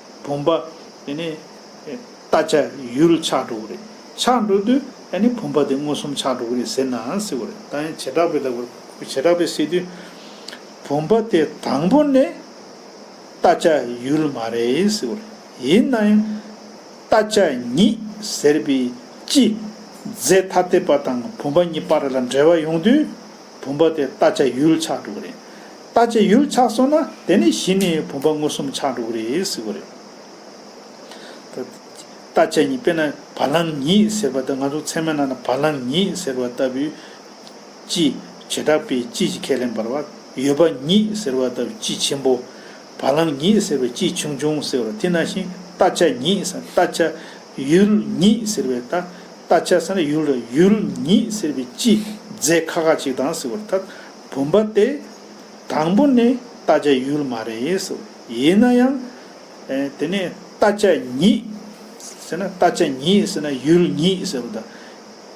བུམ་པ། དེ་ནས། རྟ་ཆ་ཡུལ་ཆགས་འགྲོ་གི་རེད། ཆགས་འགྲོ་དུས་ཨ་ནི་བུམ་པ་དེ་མངོན་སུམ་ཆགས་འགྲོ་གི་རེད་ཟེར་ནའང་སྲིད་གི་རེད། ད་ཡང་བྱེ་བྲག་པའི་ལྟ་བུར། བྱེ་བྲག་པས་སྲིད་དུས། བུམ་པ་དེ་དང་པོ་ནི། རྟ་ཆ་ཡུལ་མ་རེད་ཟེར་གི་རེད། ཡིན་ན་ཡང། རྟ་ཆ་ཉིད་ཟེར་བའི་སྤྱི། རྫས་ཐ་དད་པ་དང་བུམ་པ་གཉིས་པར་ལ་འབྲེལ་བ་ཡོང་དུས། བུམ་པ་དེ་ལྟ་བྱ་ཡུལ་ཆགས་འགྲོ་གི་རེད། ལྟ་བྱེད་ཡུལ་ཆགས་སོང་ན་དེ་ནས་གཞི་ནས་བུམ་པ་མངོན་སུམ་ཆགས་འགྲོ་གི་རེད་ཟེར་བ་རེད། ལྟ་བྱེད་ཉིད་དཔེར་ན་བ་ལང་ཉིད་ཟེར་བ་ལྟར་ང་ཚོ་ཚད་མའི་ནང་ན་བ་ལང་ཉིད་ཟེར་བ་ལྟ་བུའི། སྤྱི། བྱེ་བྲག་པའི་སྤྱི་ཞིག་ཁས་ལེན་པར་བ་ཡོད་པ་ཉིད་ཟེར་བ་ལྟ་བུའི་སྤྱི་ཆེན་པོ། བ་ལང་ཉིད་ཟེར་བའི་སྤྱི་ཆུང་ཆུང་ཟེར་བ་དེ་ནང་བཞིན་ལྟ་བྱ་ཉིད་ཟེར་ན་ལྟ་བྱ་ཡུལ་ཉིད་ཟེར་བའི་ད་ལྟ་ཆ་སར་ཡུལ་ར་ཡུལ་ཉིད་ཟེར་བའི་སྤྱི་རྫས་ཁ་ཁ་ཅིག་དང་ཟེར་བར་ཐག་བུམ་པ་སྟེ། དང་པོ་ནི་ད་ཆ་ཡུལ་མ་རེད་ཟེར་བ་ཡིན་ན་ཡང། དེ་ནས་ད་ཆ་ཉིད་ཟེར་ན་ད་ཆ་ཉིད་ཟེར་ན་ཡུལ་ཉིད་ཟེར་བ་དང།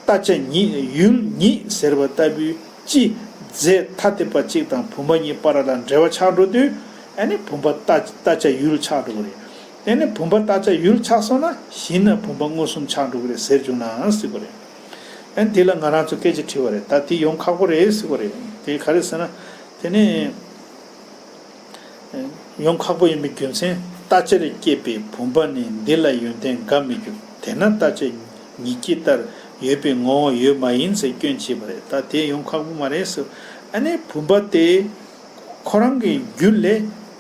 ད་ཆ་ཉིད་ཡུལ་ཉིད་ཟེར་བ་ལྟ་བུའི་སྤྱི་རྫས་ཐ་དད་པ་གཅིག་དང་བུམ་པ་གཉིས་པར་ལ་འབྲེལ་བ་ཆགས་འགྲོ་དུས་ཨ་ནི་བུམ་པ་ད་ད་ཆ་ཡུལ་ཆགས་འགྲོ་བ་རེད། དེ་ནས་བུམ་པ་བཏགས་ཆ་ཡུལ་ཆགས་སོང་ན་གཞི་ན་བུམ་པ་མངོན་སུམ་ཆགས་འགྲོ་གི་རེད་ཟེར་བཅུག་ནའང་སྲིད་པ་རེད། ཨན་དེ་ལ་ང་རང་ཚོ་སྐད་ཅིག་ཁྲིད་བ་རེད་ད་དེ་ཡོང་ཁག་པོ་རེད་ཟེར་བ་རེད། དེ་ག་རེད་ཟེར་ན། དེ་ནས། ཡོང་ཁག་པོ་ཡིན་པའི་རྒྱུ་མཚན་བཏགས་ཆར་བསྐྱེད་པའི་བུམ་པ་ནི་འདི་ལ་ཡོན་ཏན་འགའ་མི་འགྱུར་དེས་ན་བཏགས་ཆ་ཉིད་ཀྱི་ལྟར་ཡོད་པའི་ངོ་བོ་ཡོད་མ་ཡིན་ཚེ་སྐྱོན་བྱེད་པ་རེད་ད་དེ་ཡོང་ཁག་པོ་མ་རེད་ཟེར། ཨ་ནི་བུམ་པ་དེ་ཁོ་རང་གི་རྒྱུད་ལས།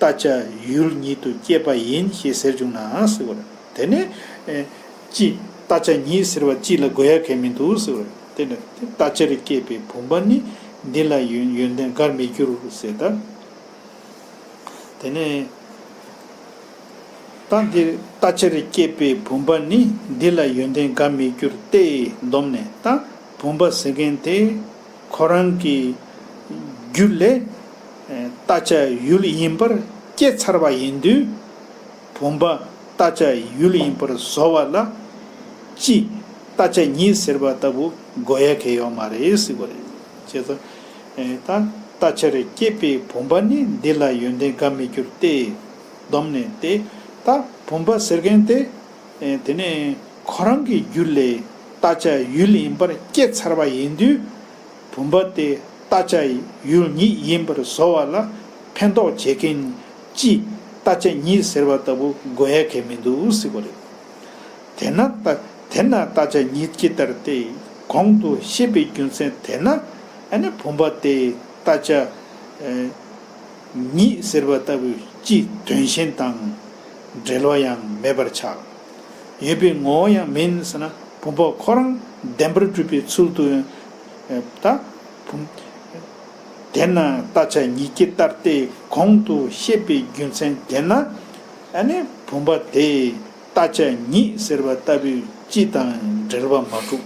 ལྟ་བྱ་ཡུལ་ཉིད་དུ་སྐྱེས་པ་ཡིན་ཞེས་ཟེར་བྱུང་ནའང་ཟེར་བར། དེ་ནས། ཅི། ལྟ་བྱ་ཉིད་ཟེར་བ་ཅི་ལ་དགོས་ཡ་གལ་མི་འདུག་ཟེར་བར། དེ་ནས། ལྟ་བྱ་རུ་སྐྱེས་པའི་བུམ་པ་ནི། འདི་ལ་ཡོན་ཏན་དགར་མི་འགྱུར་ཟེར། ད། དེ་ནས། ད་འདིར་ལྟ་བྱ་རུ་སྐྱེས་པའི་བུམ་པ་ནི། འདི་ལ་ཡོན་ཏན་དགར་མི་འགྱུར་ཏེ། འདོམས་ནས། ད། བུམ་པ་ཟེར་མཁན་དེ། ཁོ་རང་གི་རྒྱུད་ལས། རྟ་བྱ་ཡུལ་ཡིན་པར་སྐྱེ་ཚར་བ་ཡིན་དུས། བུམ་པ་རྟ་བྱ་ཡུལ་ཡིན་པར་བཟོ་བ་ལ། སྤྱི་རྟ་བྱ་ཉིད་ཟེར་བ་ལྟ་བུ་དགོས་ཡ་གལ་ཡོད་མ་རེད་ཟེར་བ་རེད། ཅེས་དང། ད་རྟ་བྱར་སྐྱེས་པའི་བུམ་པ་ནི་འདི་ལ་ཡོན་ཏན་འགའ་མི་འགྱུར་ཏེ། བསྡོམས་ནས་ཏེ། ད་བུམ་པ་ཟེར་མཁན་དེ། དེ་ནས་ཁོ་རང་གི་རྒྱུད་ལས་རྟ་ལྕག་ཡུལ་ཡིན་པར་སྐྱེ་ཚར་བ་ཡིན་དུས། བུམ་པ་དེ་རྟ་ལྕག་ཡུལ་ཉིད་ཡིན་པར་བཟོ་བ་ལ་ཕན་ཐོགས་བྱེད་མཁན་གྱིས་རྟ་ལྕག་ཉིད་ཟེར་བ་ལྟ་བུ་དགོས་ཡ་གལ་མི་འདུག་སྲིད་པ་རེད། དེས་ན་དེ་ན་རྟ་ལྕག་ཉིད་ཀྱི་ལྟར་ཏེ་གོང་དུ་བཤད་པའི་རྒྱུ་མཚན་དེས་ན་ནི་བུམ་པ་དེ་རྟ་ལྕག་ཉིད་ཟེར་བ་ལྟ་བུ་སྤྱིའི་དོན་བཞིན་དང། འབྲེལ་བ་ཡང་མེད་པར་ཆགས། ཡོད་པའི་ངོ་བོ་ཡང་མིན་ཟེར་ན་བུམ་པ་ཁོ་རང་བདེན་པར་གྲུབ་པའི་ཚུལ་དུ་ད། དེས་ན་ལྟ་བྱ་ཉིད་ཀྱི་ལྟར་ཏེ་གོང་དུ་བཤད་པའི་རྒྱུ་མཚན་དེས་ན། བུམ་པ་དེས་ལྟ་བྱ་ཉིད་ཟེར་བ་ལྟ་བུའི་སྤྱི་དང་འབྲེལ་བ་མ་གྲུབ།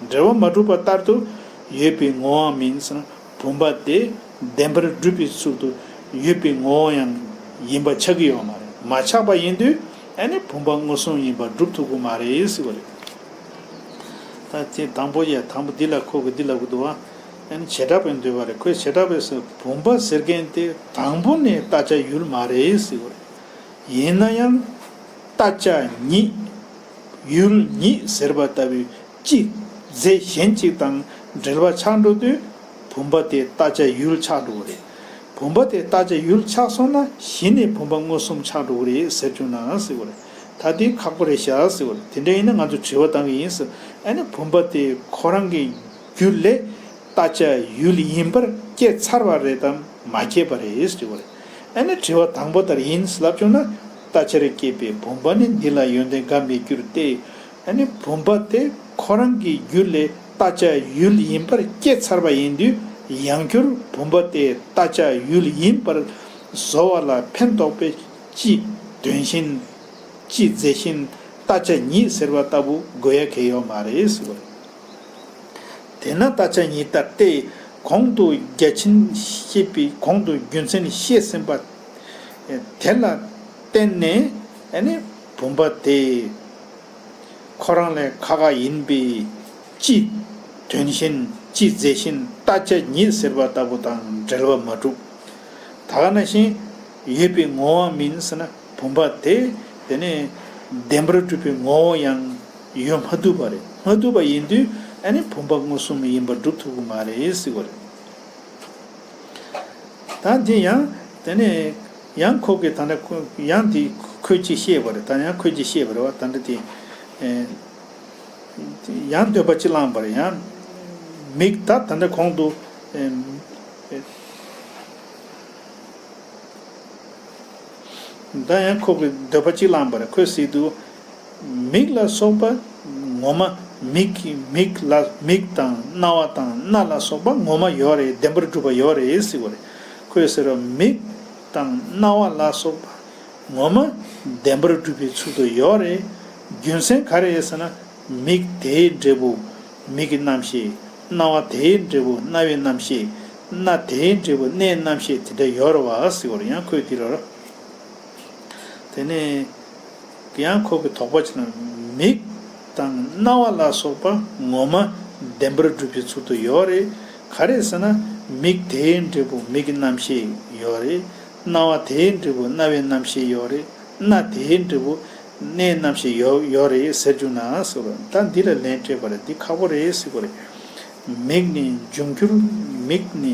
འབྲེལ་བ་མ་གྲུབ་པ་ལྟར་དུ་ཡོད་པའི་ངོ་བའང་མིན་ཟེར་ན་བུམ་པ་དེ་བདེན་པར་སྒྲུབ་པའི་ཚུལ་དུ་ཡོད་པའི་ངོ་བོ་ཡང་ཡིན་པ་ཆགས་ཀྱི་ཡོད་མ་རེད། མ་ཆགས་པ་ཡིན་དུས་ཨེ་ནི་བུམ་པ་མངོན་སུམ་ཡིན་པར་སྒྲུབ་ཐུབ་ཀྱི་མ་རེད་ཟེར་བ་རེད། ད་དེ་དང་པོ་ཡ་དང་པོ་འདི་ལ་ཁོ་གི་འདི་ལ་གུ་དུ་བ་ཨེ་ནི་བྱེ་བྲག་པའི་འདོད་པ་རེད་ཁོས་བྱེ་བྲག་པའི་སུ་བུམ་པ་ཟེར་མཁན་དེ་དང་པོ་ནས་ལྟ་བྱ་ཡུལ་མ་རེད་ཟེར་བ་རེད། ཡིན་ན་ཡང། ལྟ་བྱ་ཉིད། ཡུལ་ཉིད་ཟེར་བ་ལྟ་བུའི། གཅིག། རྫས་གཞན་གཅིག་དང་འབྲེལ་བ་ཆགས་འགྲོ་དུས། བུམ་པ་དེ་ལྟ་བྱ་ཡུལ་ཆགས་འགྲོ་བ་རེད། བུམ་པ་དེ་ལྟ་བྱ་ཡུལ་ཆགས་སོང་ན་གཞི་ནས་བུམ་པ་མངོན་སུམ་ཆགས་འགྲོ་བ་རེད་ཟེར་བཅུག་ནའང་ཟེར་བར། ད་དེ་ཁག་པོ་རེད་བྱ་ཟེར་བར་དེ་འདྲ་ཡིན་ན་ང་ཚོས་དྲི་བ་གཏང་གི་ཡིན། ཨ་ནི་བུམ་པ་དེ་ཁོ་རང་གི་རྒྱུ་ལས་ལྟ་བྱ་ཡུལ་ཡིན་པར་སྐྱེས་ཚར་བ་རེད་དམ་མ་སྐྱེས་པ་རེད་དྲི་བར། ཨ་ནི་དྲི་བ་དང་པོ་ལྟར་ཡིན་ལབ་བཅུག་ན། ལྟ་བྱར་སྐྱེས་པའི་བུམ་པ་ནི་འདི་ལ་ཡོན་ཏན་འགའ་མེད་རྒྱུར་བལྟས། ད་ནི་བུམ་པ་དེ་ཁོ་རང་གི་རྒྱུད་ལས་ལྟ་བྱ་ཡུལ་ཡིན་པར་སྐྱེ་ཚར་བ་ཡིན་དུས་ཡང་བསྐྱུར་བུམ་པ་དེ་ལྟ་བྱ་ཡུལ་ཡིན་པར་བཟོ་བ་ལ་ཕན་འདོགས་པའི་སྤྱི་དོན་བཞིན། སྤྱི་རྫས་བཞིན་ལྟ་བྱ་ཉིད་ཟེར་བ་ལྟ་བུ་དགོས་ཡ་གལ་ཡོད་མ་རེད་ཟེར་བ་ཡིན། དེས་ན་ལྟ་བྱ་ཉིད་ལྟར་ཏེ་གོང་དུ་བརྒྱ་བྱིན་ཤེས་པའི་གོང་དུ་རྒྱུ་མཚན་བཤད་ཟིན་པ་དེ་ལ་བརྟེན་ནས། བུམ་པ་དེ། ཁོ་རང་ལས་ཁ་ཁ་ཡིན་པས་ཅི། དོན་བཞིན་ཅི་མཛད་བཞིན་ལྟ་ཅ་ཉིད་ཟེར་བ་ལྟ་བུ་དང་འབྲེལ་བ་མ་གྲུབ། ད་ག་ན་གཞན་ཡོད་པའི་ངོ་བོའང་མིན་ཟེར་ན་བུམ་པ་དེ། དེ་ནས་བདེན་པར་གྲུབ་པའི་ངོ་བོ་ཡང་ཡོད་མ་བཏུབ་པ་རེད་མ་བཏུབ་པ་ཡིན་དུས་ཨ་ནི་བུམ་པ་མངོན་སུམ་མ་ཡིན་པར་སྒྲུབ་ཐུབ་ཀྱི་མ་རེད་ཟེར་གྱི་རེད། ད་དེ་ཡང་དེ་ནས། ཡང་ཁོ་གིས་ད་ནི་ཡང་དེ་ཁོས་ཅི་ཤེས་པར་ད་ཡང་ཁོས་ཅི་ཤེས་པར་བ་ད་འདི་དེ། ཡང་འདོད་པ་ཅི་བླངས་པར་ཡང། མིག་ད་ད་འདི་གོང་དུ། ད་ཡང་ཁོ་གིས་འདོད་པ་ཅི་བླངས་པར་ཁོས་སྲིད་དུ། མིག་ལ་སོགས་པ་ངོ་མ་མིག་གིས་མིག་ལ་མིག་དང་རྣ་བ་དང་སྣ་ལ་སོགས་པ་ངོ་མ་ཡོད་རེད་བདེན་པར་སྒྲུབ་པ་ཡོད་རེད་སྲིད་བར། ཁོས་ཟེར་བ། མིག་དང་རྣ་བ་ལ་སོགས་པ་ངོ་མ་བདེན་པར་སྒྲུབ་པའི་ཚུལ་དུ་ཡོད་རེད། རྒྱུ་མཚན་ག་རེད་ཟེར་ན། མིག་དེའི་འབྲས་བུ་མིག་གི་རྣམ་ཤེས། རྣ་བ་དེའི་འབྲས་བུ་རྣ་བའི་རྣམ་ཤེས། སྣ་དེའི་འབྲས་བུ་སྣའི་རྣམ་ཤེས་དེ་འདྲ་ཡོད་རེད་བ་ཟེར་བར་ཡང་ཁོས་དེ་ལ། དེ་ནས་ཡང་ཁོག་གི་དོག་པ་ཅན་མིག་དང་རྣ་བ་ལ་སོགས་པ་ངོ་མ་བདེན་པར་སྒྲུབ་པའི་ཚུལ་དུ་ཡོད་རེད། ག་རེ་ཟེར་ན་མིག་དེའི་འབྲས་བུ་མིག་གི་རྣམ་ཤེས་ཡོད་རེད། རྣ་བ་དེའི་འབྲས་བུ་རྣ་བའི་རྣམ་ཤེས་ཡོད་རེད། སྣ་དེའི་འབྲས་བུ་སྣའི་རྣམ་ཤེས་ཡོད་རེད་ཟེར་རྒྱུ་ན་ཟེར་བ་ད་འདི་ལ་ལན་སྤྲད་པར་འདི་ཁག་པོ་རེད་ཟེར་དགོས་རེད། མིག་ནི་འབྱུང་འགྱུར་མིག་ནི།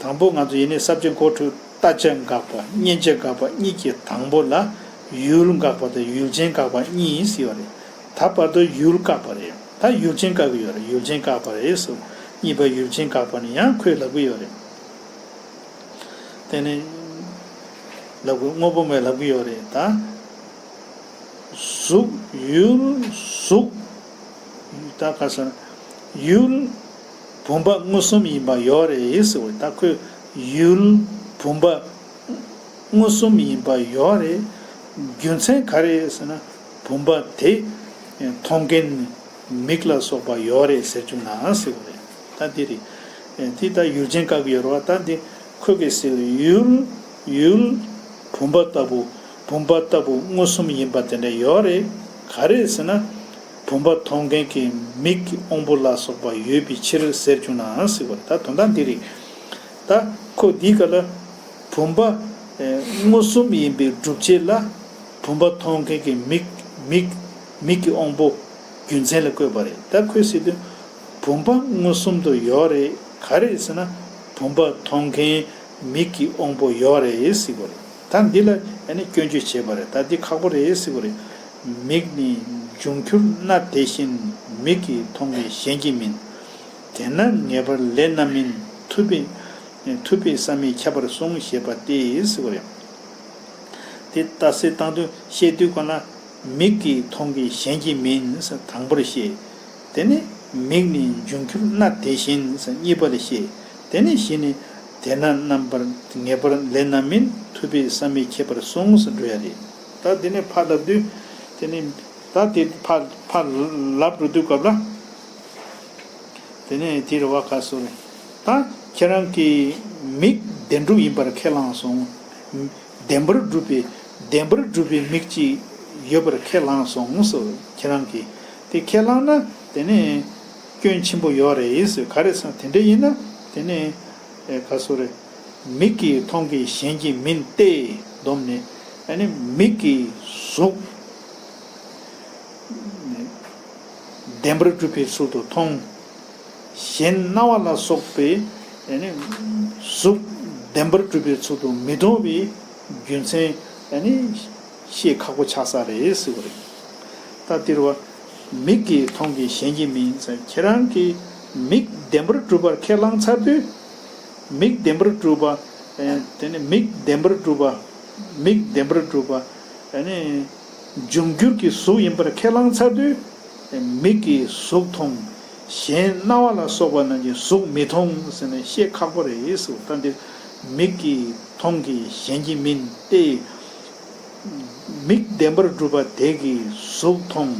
དང་པོ་ང་ཚོ་ཡེ་ནས་གསར་བརྗེ་མགོ་ཁྲུག་ལྟ་དཔྱད་འགག་པ་མཉེན་ལྕེ་འགག་པ་གཉིས་ཀྱི་དང་པོ་ལ་ཡུལ་འགག་པ་དང་ཡུལ་ཅན་འགག་པ་གཉིས་ཡིན་སྲིད་པ་རེད་ད་བར་དུ་ཡུལ་བཀག་པ་རེད་ད་ཡུལ་ཅན་བཀག་གི་ཡོད་རེད་ཡུལ་ཅན་བཀག་པ་རེད་ཟེར་བ་གཉིས་པ་ཡུལ་ཅན་འགག་པ་ནི་ཡང་ཁོས་ལབ་གི་ཡོད་རེད་དེ་ནི་ལབ་དགོས་དངོས་པོ་མེད་ལབ་གི་ཡོད་རེད་ད། གཟུགས། ཡུལ། གཟུགས། ད་ག་ས་ཡུལ། བུམ་པ་མངོན་གསུམ་ཡིན་པ་ཡོད་རེད་ཟེར་བའི་ཐ་ཁོས་ཡུལ་བུམ་པ་མངོན་གསུམ་ཡིན་པ་ཡོད་རེད། རྒྱུ་མཚན་ག་རེད་ཟེར་ན་བུམ་པ་དེ་མཐོང་མཁན་མིག་ལ་སོགས་པ་ཡོད་རེད་ཟེར་རྒྱུ་ང་ཟེར་བ་རེད་ད་འདི་རེད། དེ་ལྟར་ཡུལ་ཅན་བཀག་ཡོད་རེད་བ་ད་འདི་ཁོས་གས་ཟེར་བའི་ཡུལ་བུམ་པ་ལྟ་བུ། བུམ་པ་ལྟ་བུ་མངོན་སུམ་ཡིན་པ་དེ་འདྲ་ཡོད་རེད། ག་རེད་ཟེར་ན། བུམ་པ་མཐོང་མཁན་གྱི་མིག་གི་དབང་པོ་ལ་སོགས་པ་ཡོད་པའི་ཕྱིར་ཟེར་བྱུང་ནའང་སྲིད་པ་ད་དོན་དག་འདི་རེད། ད་ཁོ་འདིའི་ག་ལ། བུམ་པ། མངོན་སུམ་ཡིན་པའི་སྒྲུབ་བྱེད་ལ། བུམ་པ་མཐོང་མཁན་གྱི་མིག། མིག། མིག་གི་དབང་པོ། རྒྱུ་མཚན་ལ་བཀོད་པ་རེད་ད་ཁོས་སྲིད་དོན། བུམ་པ་མངོན་སུམ་དུ་ཡོད་རེད་ག་རེད་ཟེར་ན། བུམ་པ་མཐོང་མཁན་མིག་གི་དབང་པོ་ཡོད་རེད་སྲིད་པ་རེད། ད་འདི་ལ་ཡང་ནི་སྐྱོན་བརྗོད་བྱེད་པ་རེད་ད་འདི་ཁག་པོ་རེད་ཟེར་བ་རེད། མིག་ནི་འབྱུང་འགྱུར་སྣ་དེ་བཞིན་མིག་གིས་མཐོང་མཁན་གཞན་གྱིས་མིན། དེས་ན་ངེས་པར་ལས་རྣམ་སྨིན་ཐུབ་པས། ཐུབ་པས་བསམ་མེད་ཁྱབ་པར་གསུངས་ཞེས་པ་སྟེ་ཟེར་བ་རེད། དེ་ལྟ་སེ་བཏང་དོན་བཤད་དུས་གོ་ན། མིག་གིས་མཐོང་མཁན་གཞན་གྱིས་མིན་ཟེར་དང་པོར་བཤད། དེ་ནི་མིག་ནི་འབྱུང་གྱུར་སྣ་དེ་བཞིན་གཉིས་པ་ལས་ཤེས། དེ་ནི་བཞི་ནི། དེས་ན་རྣམ་པར་ངེས་པར་ལས་རྣམ་མིན་ཐུབ་པས་བསམ་མི་ཁྱད་པར་སོང་ངོ་སོ་འགྲོ་ཡ་རེད། ད་དེ་ནི་ཕར་ལབ་དུས། དེ་ནི། ད་དེ་ཕར་ཕར་ལབ་འགྲོ་དུས་སྐབས་ལ། དེ་ནི་དེ་རེད་བ་ག་སོ་རེད། ད་ཁྱེད་རང་གིས་མིག་བདེན་གྲུབ་ཡིན་པར་ཁས་བླངས་སོང་ངོ། བདེན་པར་གྲུབ་པའི་བདེན་པར་གྲུབ་པའི་མིག་ཅིག་ཡོད་པར་ཁས་བླངས་སོང་ངོ་སོ་ཁྱེད་རང་གིས། དེ་ཁས་བླངས་ན་དེ་ནི། སྐྱོན་ཆེན་པོ་ཡོད་རེད། ག་རེ་ས་དེ་འདྲ་ཡིན་ན་དེ་ནི། ག་སོ་རེད། མིག་གིས་མཐོང་གི་གཞན་གྱིས་མིན་ཏེ། སྡོམ་ནི། ཨ་ནི་མིག་གིས་གཟུགས། བདེན་པར་གྲུབ་པའི་ཚུལ་དུ་མཐོང། གཞན་རྣ་བ་ལ་སོགས་པའི། གཟུགས། བདེན་པར་གྲུབ་པའི་ཚུལ་དུ་མི་མཐོང་བའི། རྒྱུ་མཚན། ཤེས་ཁག་པོ་ཆགས་ས་རེད་ཟེར་བ་རེད། ད་སྟེར་བ། མིག་གིས་མཐོང་གི་གཞན་གྱིས་མིན་ཟེར་ཁྱེད་རང་གིས་མིག་བདེན་པར་སྒྲུབ་པར་ཁས་བླངས་ཚར་དུས། མིག་བདེན་པར་སྒྲུབ་པ། དེ་ནི་མིག་བདེན་པར་སྒྲུབ་པ། མིག་བདེན་པར་སྒྲུབ་པ། དེ་ནི། འབྱུང་འགྱུར་གྱི་གཟུགས་ཡིན་པར་ཁས་བླངས་ཚར་དུས། མིག་གིས་གཟུགས་མཐོང། གཞན་རྣ་བ་ལ་སོགས་པ་རྣམས་ཀྱིས་གཟུགས་མི་མཐོང་ཟེར་ན་ཤེས་ཁག་པོ་རེད་ཟེར་བ་ད་སྟེར་བ། མིག་གིས་མཐོང་གི་གཞན་གྱིས་མིན་ཏེ། མིག་བདེན་པར་སྒྲུབ་པ་དེ་གིས་གཟུགས་མཐོང།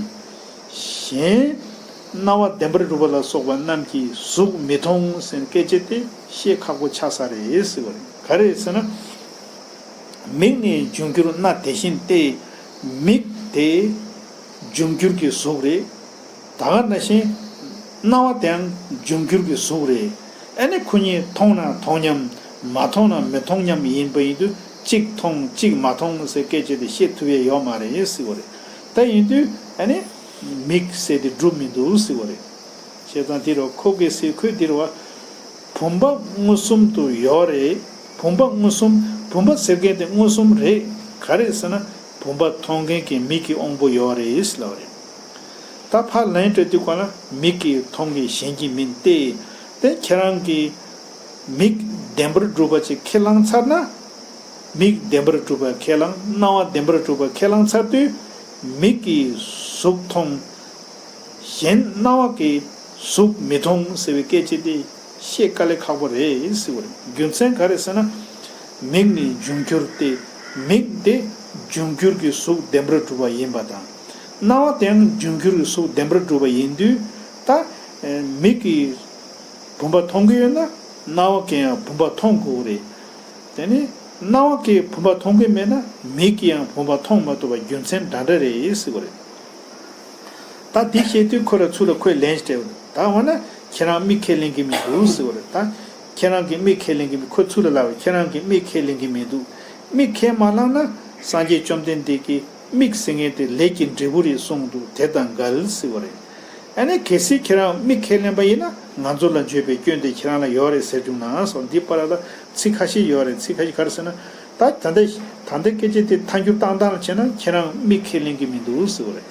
གཞན། རྣ་བ་བདེན་པར་སྒྲུབ་པ་ལ་སོགས་པ་རྣམས་ཀྱིས་གཟུགས་མི་མཐོང་ཟེར་སྐད་ཅེས་ཏེ་བཤད་ཁག་པོ་ཆགས་ས་རེད་ཟེར་བ་རེད། ག་རེད་ཟེར་ན། མིག་ནི་འབྱུང་འགྱུར་སྣ་དེ་བཞིན་ཏེ། མིག་དེ། འབྱུང་འགྱུར་གྱི་གཟུགས་རེད། ད་ག་ན་བཞིན། རྣ་བ་དེའང་འབྱུང་འགྱུར་གྱི་གཟུགས་རེད། ཨ་ནི་ཁོ་གཉིས་མཐོང་ན་མཐོང་མཉམ། མ་མཐོང་ན་མི་མཐོང་མཉམ་ཡིན་པ་ཡིན་དུས། གཅིག་མཐོང་གཅིག་མ་མཐོང་ཟེར་སྐད་ཆོད་དེ་བཤད་ཐུབ་ཡ་ཡོད་མ་རེད་ཡིན་སྲིད་བོ་རེད་ད་ཡིན་དུས་ཨ་ནི། མིག་བསལ་དེ་སྒྲུབ་མི་འདུག་སྲིད་བོ་རེད། བྱས་ཙང་དེ་རུ་ཁོ་གེ་སའི་ཁོས་དེ་རུ་བ། བུམ་པ་མངོན་སུམ་དུ་ཡོད་རེད་བུམ་པ་མངོན་སུམ་བུམ་པ་ཟེར་མཁན་དེ་མངོན་སུམ་རེད་ག་རེད་ཟེར་ན་བུམ་པ་མཐོང་མཁན་གྱི་མིག་གི་དབང་པོ་ཡོད་རེད་ཟེར་ལབ་རེད། ད་ཕར་ལན་སྤྲོད་དུས་གོ་ན་མིག་གིས་མཐོང་གི་གཞན་གྱིས་མིན་ཏེ། དེ་ཁྱེད་རང་གིས། མིག་བདེན་པར་སྒྲུབ་པ་ཅིག་ཁས་བླངས་ཚར་ན། མིག་བདེན་པར་སྒྲུབ་པ་ཁས་བླངས་རྣ་བ་བདེན་པར་སྒྲུབ་པ་ཁས་བླངས་ཚར་དུས། མིག་གིས་གཟུགས་མཐོང། གཞན་རྣ་བ་ཀྱིས་གཟུགས་མི་མཐོང་ཟེར་བའི་སྐད་ཅིག་དེ་ཤེས་དཀའ་ལས་ཁག་པོ་རེད། རྒྱུ་མཚན་ག་རེ་ཟེར་ན། མིག་ནི་འབྱུང་འགྱུར་ཏེ། མིག་དེ་འབྱུང་འགྱུར་གྱི་གཟུགས་བདེན་པར་སྒྲུབ་པ་ཡིན་པ་དང། རྣ་བ་དེའང་འབྱུང་འགྱུར་གྱི་གཟུགས་བདེན་པར་སྒྲུབ་པ་ཡིན་དུས། ད། མིག་གིས། བུམ་པ་མཐོང་གི་ཡོད་ན་རྣ་བ་གིས་ཡང་བུམ་པ་མཐོང་དགོས་ཀྱི་རེད། དེ་ནས་རྣ་བ་གིས་བུམ་པ་མཐོང་གི་མེད་ན་མིག་གིས་ཡང་བུམ་པ་མཐོང་མ་ཐུབ་པ་རྒྱུ་མཚན་འདྲ་འདྲ་རེད་ཟེར་གྱི་རེད། ད་དེ་བཤད་དུས་ཁོ་ར་ཚུར་ལ་ཁོས་ལན་སྤྲད་པ། ད་འོ་ན་ཁྱེད་རང་མིག་ཁས་ལེན་གི་མི་འདུག་ཟེར་བ་རེད། ད་ཁྱེད་རང་གིས་མིག་ཁས་ལེན་གི་མི་ཁོ་ཚུར་ལ་ལབ་པ་ཁྱེད་རང་གིས་མིག་ཁས་ལེན་གི་མི་འདུག་མིག་ཁས་མ་བླངས་ན་སངས་རྒྱས་བཅོམ་ལྡན་འདས་ཀྱིས། དམིགས་བསལ་ངན་དེ་ལས་ཀྱི་འབྲས་བུ་རེད་གསུངས་འདུག་དེ་དང་འགལ་སྲིད་པ་རེད། ཨ་ནེ་གལ་སྲིད་ཁྱེད་རང་དམིགས་ཁས་ལེན་པ་ཡིན་ན་ང་ཚོ་ལ་འགྱོད་པའི་སྐྱོན་དེ་ཁྱེད་རང་ལ་ཡོད་རེད་ཟེར་རྒྱུ་ནའང་སོང་འདི་པར་ལ་ཚིག་ཁ་ཤས་ཡོད་རེད་ཚིག་ཁ་ཤས་ག་རེ་ཟེར་ན། ད་ད་འདི་ད་འདི་སྐད་ཆ་དེ་མཐའ་འགྱུར་བཏང་སྟངས་ལ་བྱས་ན་ཁྱེད་རང་དམིགས་ཁས་ལེན་གི་མི་འདུག་ཟེར་བ་རེད།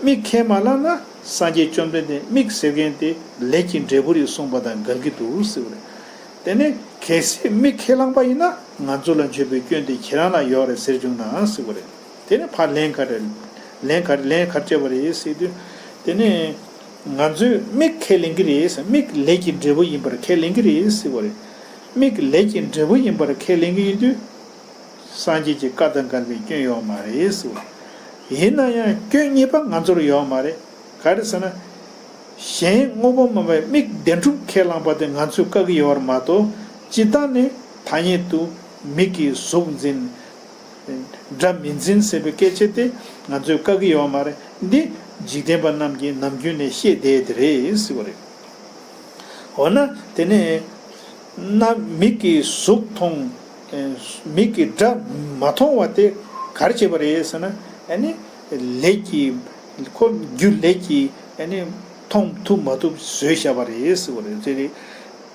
དམིགས་ཁས་མ་བླངས་ན་སངས་རྒྱས་བཅོམ་ལྡན་འདས་དམིགས་བསལ་ངན་དེ་ལས་ཀྱི་འབྲས་བུ་རེད་གསུངས་པ་དང་འགལ་གི་འདུག་ཟེར་བ་རེད། དེ་ནས་གལ་སྲིད་མི་ཁས་བླངས་པ་ཡིན་ན་ང་ཚོ་ལ་འཇོན་པའི་སྐྱོན་དེ་ཁྱེད་རང་ལ་ཡོད་རེད་ཟེར་བྱུང་ནའང་སྲིད་པ་རེད། དེ་ནས་ཕར་ལན་ག་རེད། ལན་ག་རེད་ལན་ག་རེ་སྤྲད་པ་རེད་ཟེར་དུས། དེ་ནས། ང་ཚོས་མིག་ཁས་ལེན་གྱི་རེད་ཟེར་མིག་ལས་ཀྱི་འབྲས་བུ་ཡིན་པར་ཁས་ལེན་གྱི་རེད་ཟེར་བ་རེད། མིག་ལས་ཀྱི་འབྲས་བུ་ཡིན་པར་ཁས་ལེན་གྱི་ཡིན་དུས། སངས་རྒྱས་ཀྱི་བཀའ་དང་འགལ་བའི་སྐྱོན་ཡོད་མ་རེད་ཟེར་བ་རེད། ཡིན་ན་ཡང་སྐྱོན་གཉིས་པ་ང་ཚོར་ཡོད་མ་རེད། ག་རེ་ཟེར་ན། གཞན་དངོས་པོ་སྨོན་པའི་དམིགས་བདེན་སྒྲུབ་ཁས་བླངས་པ་དེ་ང་ཚོས་བཀག་གི་ཡོད་བར་མ་དོ། སྤྱི་བཏང་ནི་ཐ་སྙད་དུ་མིག་གིས་གཟུགས་འཛིན། སྒྲ་མི་འཛིན་ཟེར་བའི་སྐད་ཆ་དེ་ང་ཚོས་བཀག་གི་ཡོད་བ་མ་རེད། འདི་འཇིག་རྟེན་པ་རྣམས་ཀྱིས་ནམ་རྒྱུན་ནས་ཤེས་བསྡད་དེ་རེད་ཟེར་བ་རེད། འོ་ན་དེ་ནས། ན་མིག་གིས་གཟུགས་མཐོང། མིག་གིས་སྒྲ་མ་མཐོང་བ་དེ་ག་རེ་བྱས་པ་རེད་ཟེར་ན། ཨ་ནི། ལེགས་ཀྱིས། ཁོ་རྒྱུ་ལེགས་ཀྱིས་ཡང་ནི། མཐོང་ཐུབ་མ་ཐུབ་བཟོད་ཤ་བ་རེད།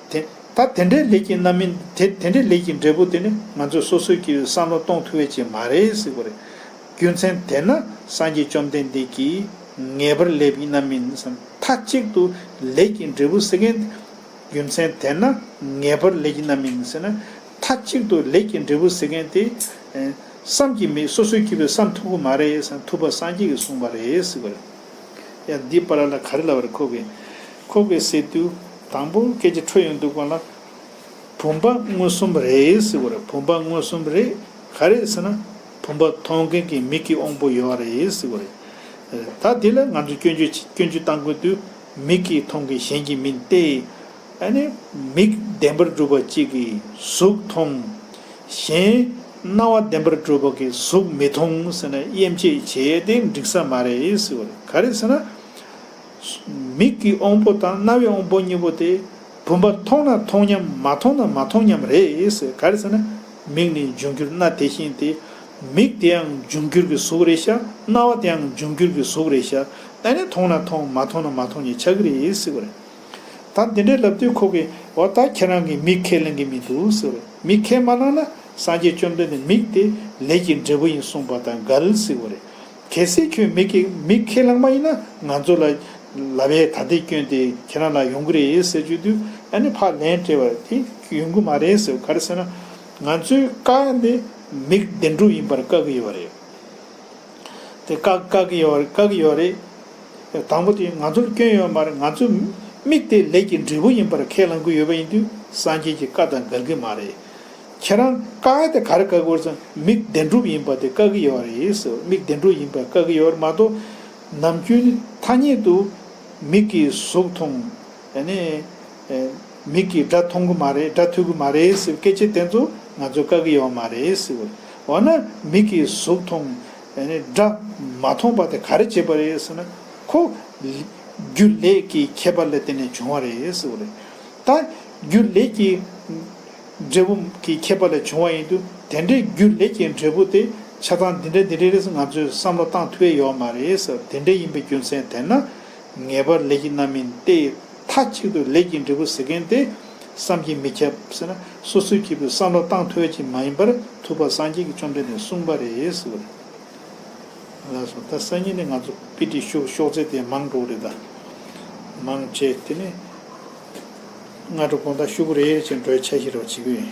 ད་དེ་འདྲའི་ལེགས་ཀྱི་རྣམ་སྨིན། དེ་འདྲའི་ལེགས་ཀྱི་འབྲས་བུ་དེ་ནི། ང་ཚོས་སོ་སོས་ཀྱིས་བསམ་བློ་གཏོང་ཐུབ་བས་ཅི་མ་རེད། རྒྱུ་མཚན་དེས་ན་སངས་རྒྱས་བཅོམ་ལྡན་འདས་ཀྱིས། ངེས་པར་ལེགས་ཀྱི་རྣམ་སྨིན། མཐའ་གཅིག་ཏུ་ལེགས་ཀྱི་འབྲས་བུ་ཟེར་མཁན། རྒྱུ་མཚན་དེས་ན་ངེས་པར་ལེགས་ཀྱི་རྣམ་སྨིན། མཐའ་གཅིག་ཏུ་ལེགས་ཀྱི་འབྲས་བུ་ཟེར་མཁན་དེ། བསམ་གྱིས་མི་སོ་སོའི་སྐྱེས་བུ་བསམ་ཐུབ་ཁོ་མ་རེད་བསམ་ཐུབ་པ་སངས་རྒྱས་ཀྱིས་གསུངས་པ་རེད་ཟེར་གི་རེད། ཡང་འདི་པར་ལ་ག་རེ་ལབ་པ་རེད་ཁོ་གིས་ཁོ་གིས་ཟེར་དུས་དང་པོ་སྐད་ཆ་འཕྲོད་ཡོང་དུས་དགོངས་ལ། བུམ་པ་མངོན་སུམ་རེད་ཟེར་གི་རེད་བུམ་པ་མངོན་སུམ་རེད་ག་རེད་ཟེར་ན། བུམ་པ་མཐོང་མཁན་གྱི་མིག་གི་དབང་པོ་ཡོད་བ་རེད་ཟེར་གི་རེད། ད་དེ་ལ་ང་ཚོས་སྐྱོན་བརྗོད་བྱེད་སྐྱོན་བརྗོད་གཏང་དགོས་དུས་མིག་གིས་མཐོང་མཁན་གཞན་གྱིས་མིན་ཏེ། ཨ་ནི། མིག་བདེན་པར་སྒྲུབ་པ་གཅིག་གིས་གཟུགས་མཐོང། གཞན། རྣ་བ་བདེན་པར་སྒྲུབ་པ་གིས་གཟུགས་མི་མཐོང་ཟེར་ན་དབྱེ་འབྱེད་བྱེད་དེ་འགྲིག་ས་མ་རེད་ཟེར་བ་རེད། ག་རེ་ཟེར་ན། མིག་གི་དབང་པོ་དང་རྣ་བའི་དབང་པོ་གཉིས་པོ་དེ། བུམ་པ་མཐོང་ན་མཐོང་ཉམས་མ་མཐོང་ན་མ་མཐོང་ཉམས་རེད་ཟེར། ག་རེ་ཟེར་ན། མིག་ནི་འབྱུང་འགྱུར་རྣ་དེ་བཞིན་ཏེ། མིག་དེའང་འབྱུང་འགྱུར་གྱི་གཟུགས་རེད་ཤག་རྣ་བ་དེའང་འབྱུང་འགྱུར་གྱི་གཟུགས་རེད་ཤག་ཨ་ནི་མཐོང་ན་མཐོང་མ་མཐོང་ན་མ་མཐོང་གཉིས་ཆགས་ཀྱི་རེད་ཟེར་བ་རེད། ད་འདི་འདྲའི་ལབ་དུས་ཁོ་གིས་འོ་ད་ཁྱེད་རང་གིས་མིག་ཁས་ལེན་གི་མི་འདུག་ཟེར་བས་མིག་ཁས་མ་གནང་ན་སངས་རྒྱས་བཅོམ་ལྡན་འདས་མིག་དེ་ལས་ཀྱི་འབྲས་བུ་ཡིན་གསུངས་པ་དང་འགལ་སྲིད་བོ་རེད། གལ་སྲིད་ཁྱོད་མིག་གིས་མིག་ཁས་བླངས་མ་ཡིན་ན་ང་ཚོ་ལ་ལབ་བས་ད་འདི་སྐྱོན་དེ་ཁྱེད་རང་ལ་ཡོང་གི་རེད་ཟེར་བརྗོད་དུས་ཨ་ནི་ཕ་ལན་སྤྲད་པར་དེ་ཡོང་གི་མ་རེད་ཟེར་བས་ག་རེ་ཟེར་ན་ང་ཚོའི་བཀའ་འདི་མིག་བདེན་གྲུབ་ཡིན་པར་བཀག་གི་ཡོད་པ་རེད། དེ་བཀག་བཀག་གི་ཡོད་རེད་བཀག་གི་ཡོད་རེད། དང་པོ་དེ་ང་ཚོར་སྐྱོན་ཡོད་མ་རེད་ང་ཚོས་དམིགས་ཏེ་ལས་ཀྱི་འབྲས་བུ་ཡིན་པར་ཁས་བླང་གི་ཡོད་པ་ཡིན་དུས་སངས་རྒྱས་ཀྱི་བཀའ་དང་འགལ་གི་མ་རེད། ཁྱེད་རང་བཀག་དེ་ག་རེ་བཀག་དགོས་ཙང་མིག་བདེན་གྲུབ་ཡིན་པ་དེ་བཀག་གི་ཡོད་རེད་ཟེར་བ་མིག་བདེན་གྲུབ་ཡིན་པས་བཀག་གི་ཡོད་རེད་མ་གཏོགས། ནམ་རྒྱུན་ཐ་སྙད་དུ། མིག་གིས་གཟུགས་མཐོང། མིག་གིས་སྒྲ་མཐོང་གི་མ་རེད་སྒྲ་ཐོས་གི་མ་རེད་ཟེར་བའི་སྐད་ཆའི་སྟེང་དུ་ང་ཚོས་དཀའ་གི་ཡོད་མ་རེད་ཟེར་བ། འོ་ན་མིག་གིས་གཟུགས་མཐོང། སྒྲ་མ་མཐོང་པ་དེ་ག་རེ་བྱེད་པ་རེད་ཟེར་ན། ཁོ། རྒྱུ་ལས་ཀྱི་ཁྱད་པར་ལས་བརྟེན་ནས་བྱུང་བ་རེད་ཟེར་བ་རེད། ད། རྒྱུ་ལས་ཀྱི། འབྲས་བུ་གི་ཁྱད་པར་ལས་བྱུང་བ་ཡིན་དུས་དེ་འདྲའི་རྒྱུ་ལས་ཀྱི་འབྲས་བུ་དེ་ཆ་ཚང་འདི་འདྲ་འདི་འདྲ་རེད་ཟེར་ང་ཚོས་བསམ་བློ་བཏང་ཐུབ་ཡས་ཡོད་མ་རེད་ཟེར་བ་དེ་འདྲ་ཡིན་པའི་རྒྱུ་མཚན་དེ་ན། ངེས་པར་ལས་ཀྱི་རྣམ་སྨིན་ཏེ། མཐའ་གཅིག་ཏུ་ལས་ཀྱི་འབྲས་བུ་ཟེར་མཁན་དེ་བསམ་གྱིས་མི་ཁྱབ། སོ་སོའི་སྐྱེས་བུའི་བསམ་བློ་བཏང་ཐོས་ཀྱིས་མ་ཡིན་པར་ཐུབ་པ་སངས་རྒྱས་ཀྱི་བཅོམ་ལྡན་འདས་གསུངས་པ་རེད། ད་སང་ཉིན་ནས་ང་ཚོ་པི་ཏི་ཤུག་ཤོག་ཚད་དེ་མང་འགྲོ་རེད་ད། མང་ཆེ་དེ་ནི་སྔ་དྲོ་དགོང་དག་ཤུག་རེ་རེ་བྱས་འགྲོའི་ཆ་ཤས་རེ་བ་བྱེད་ཀྱི་ཡོད།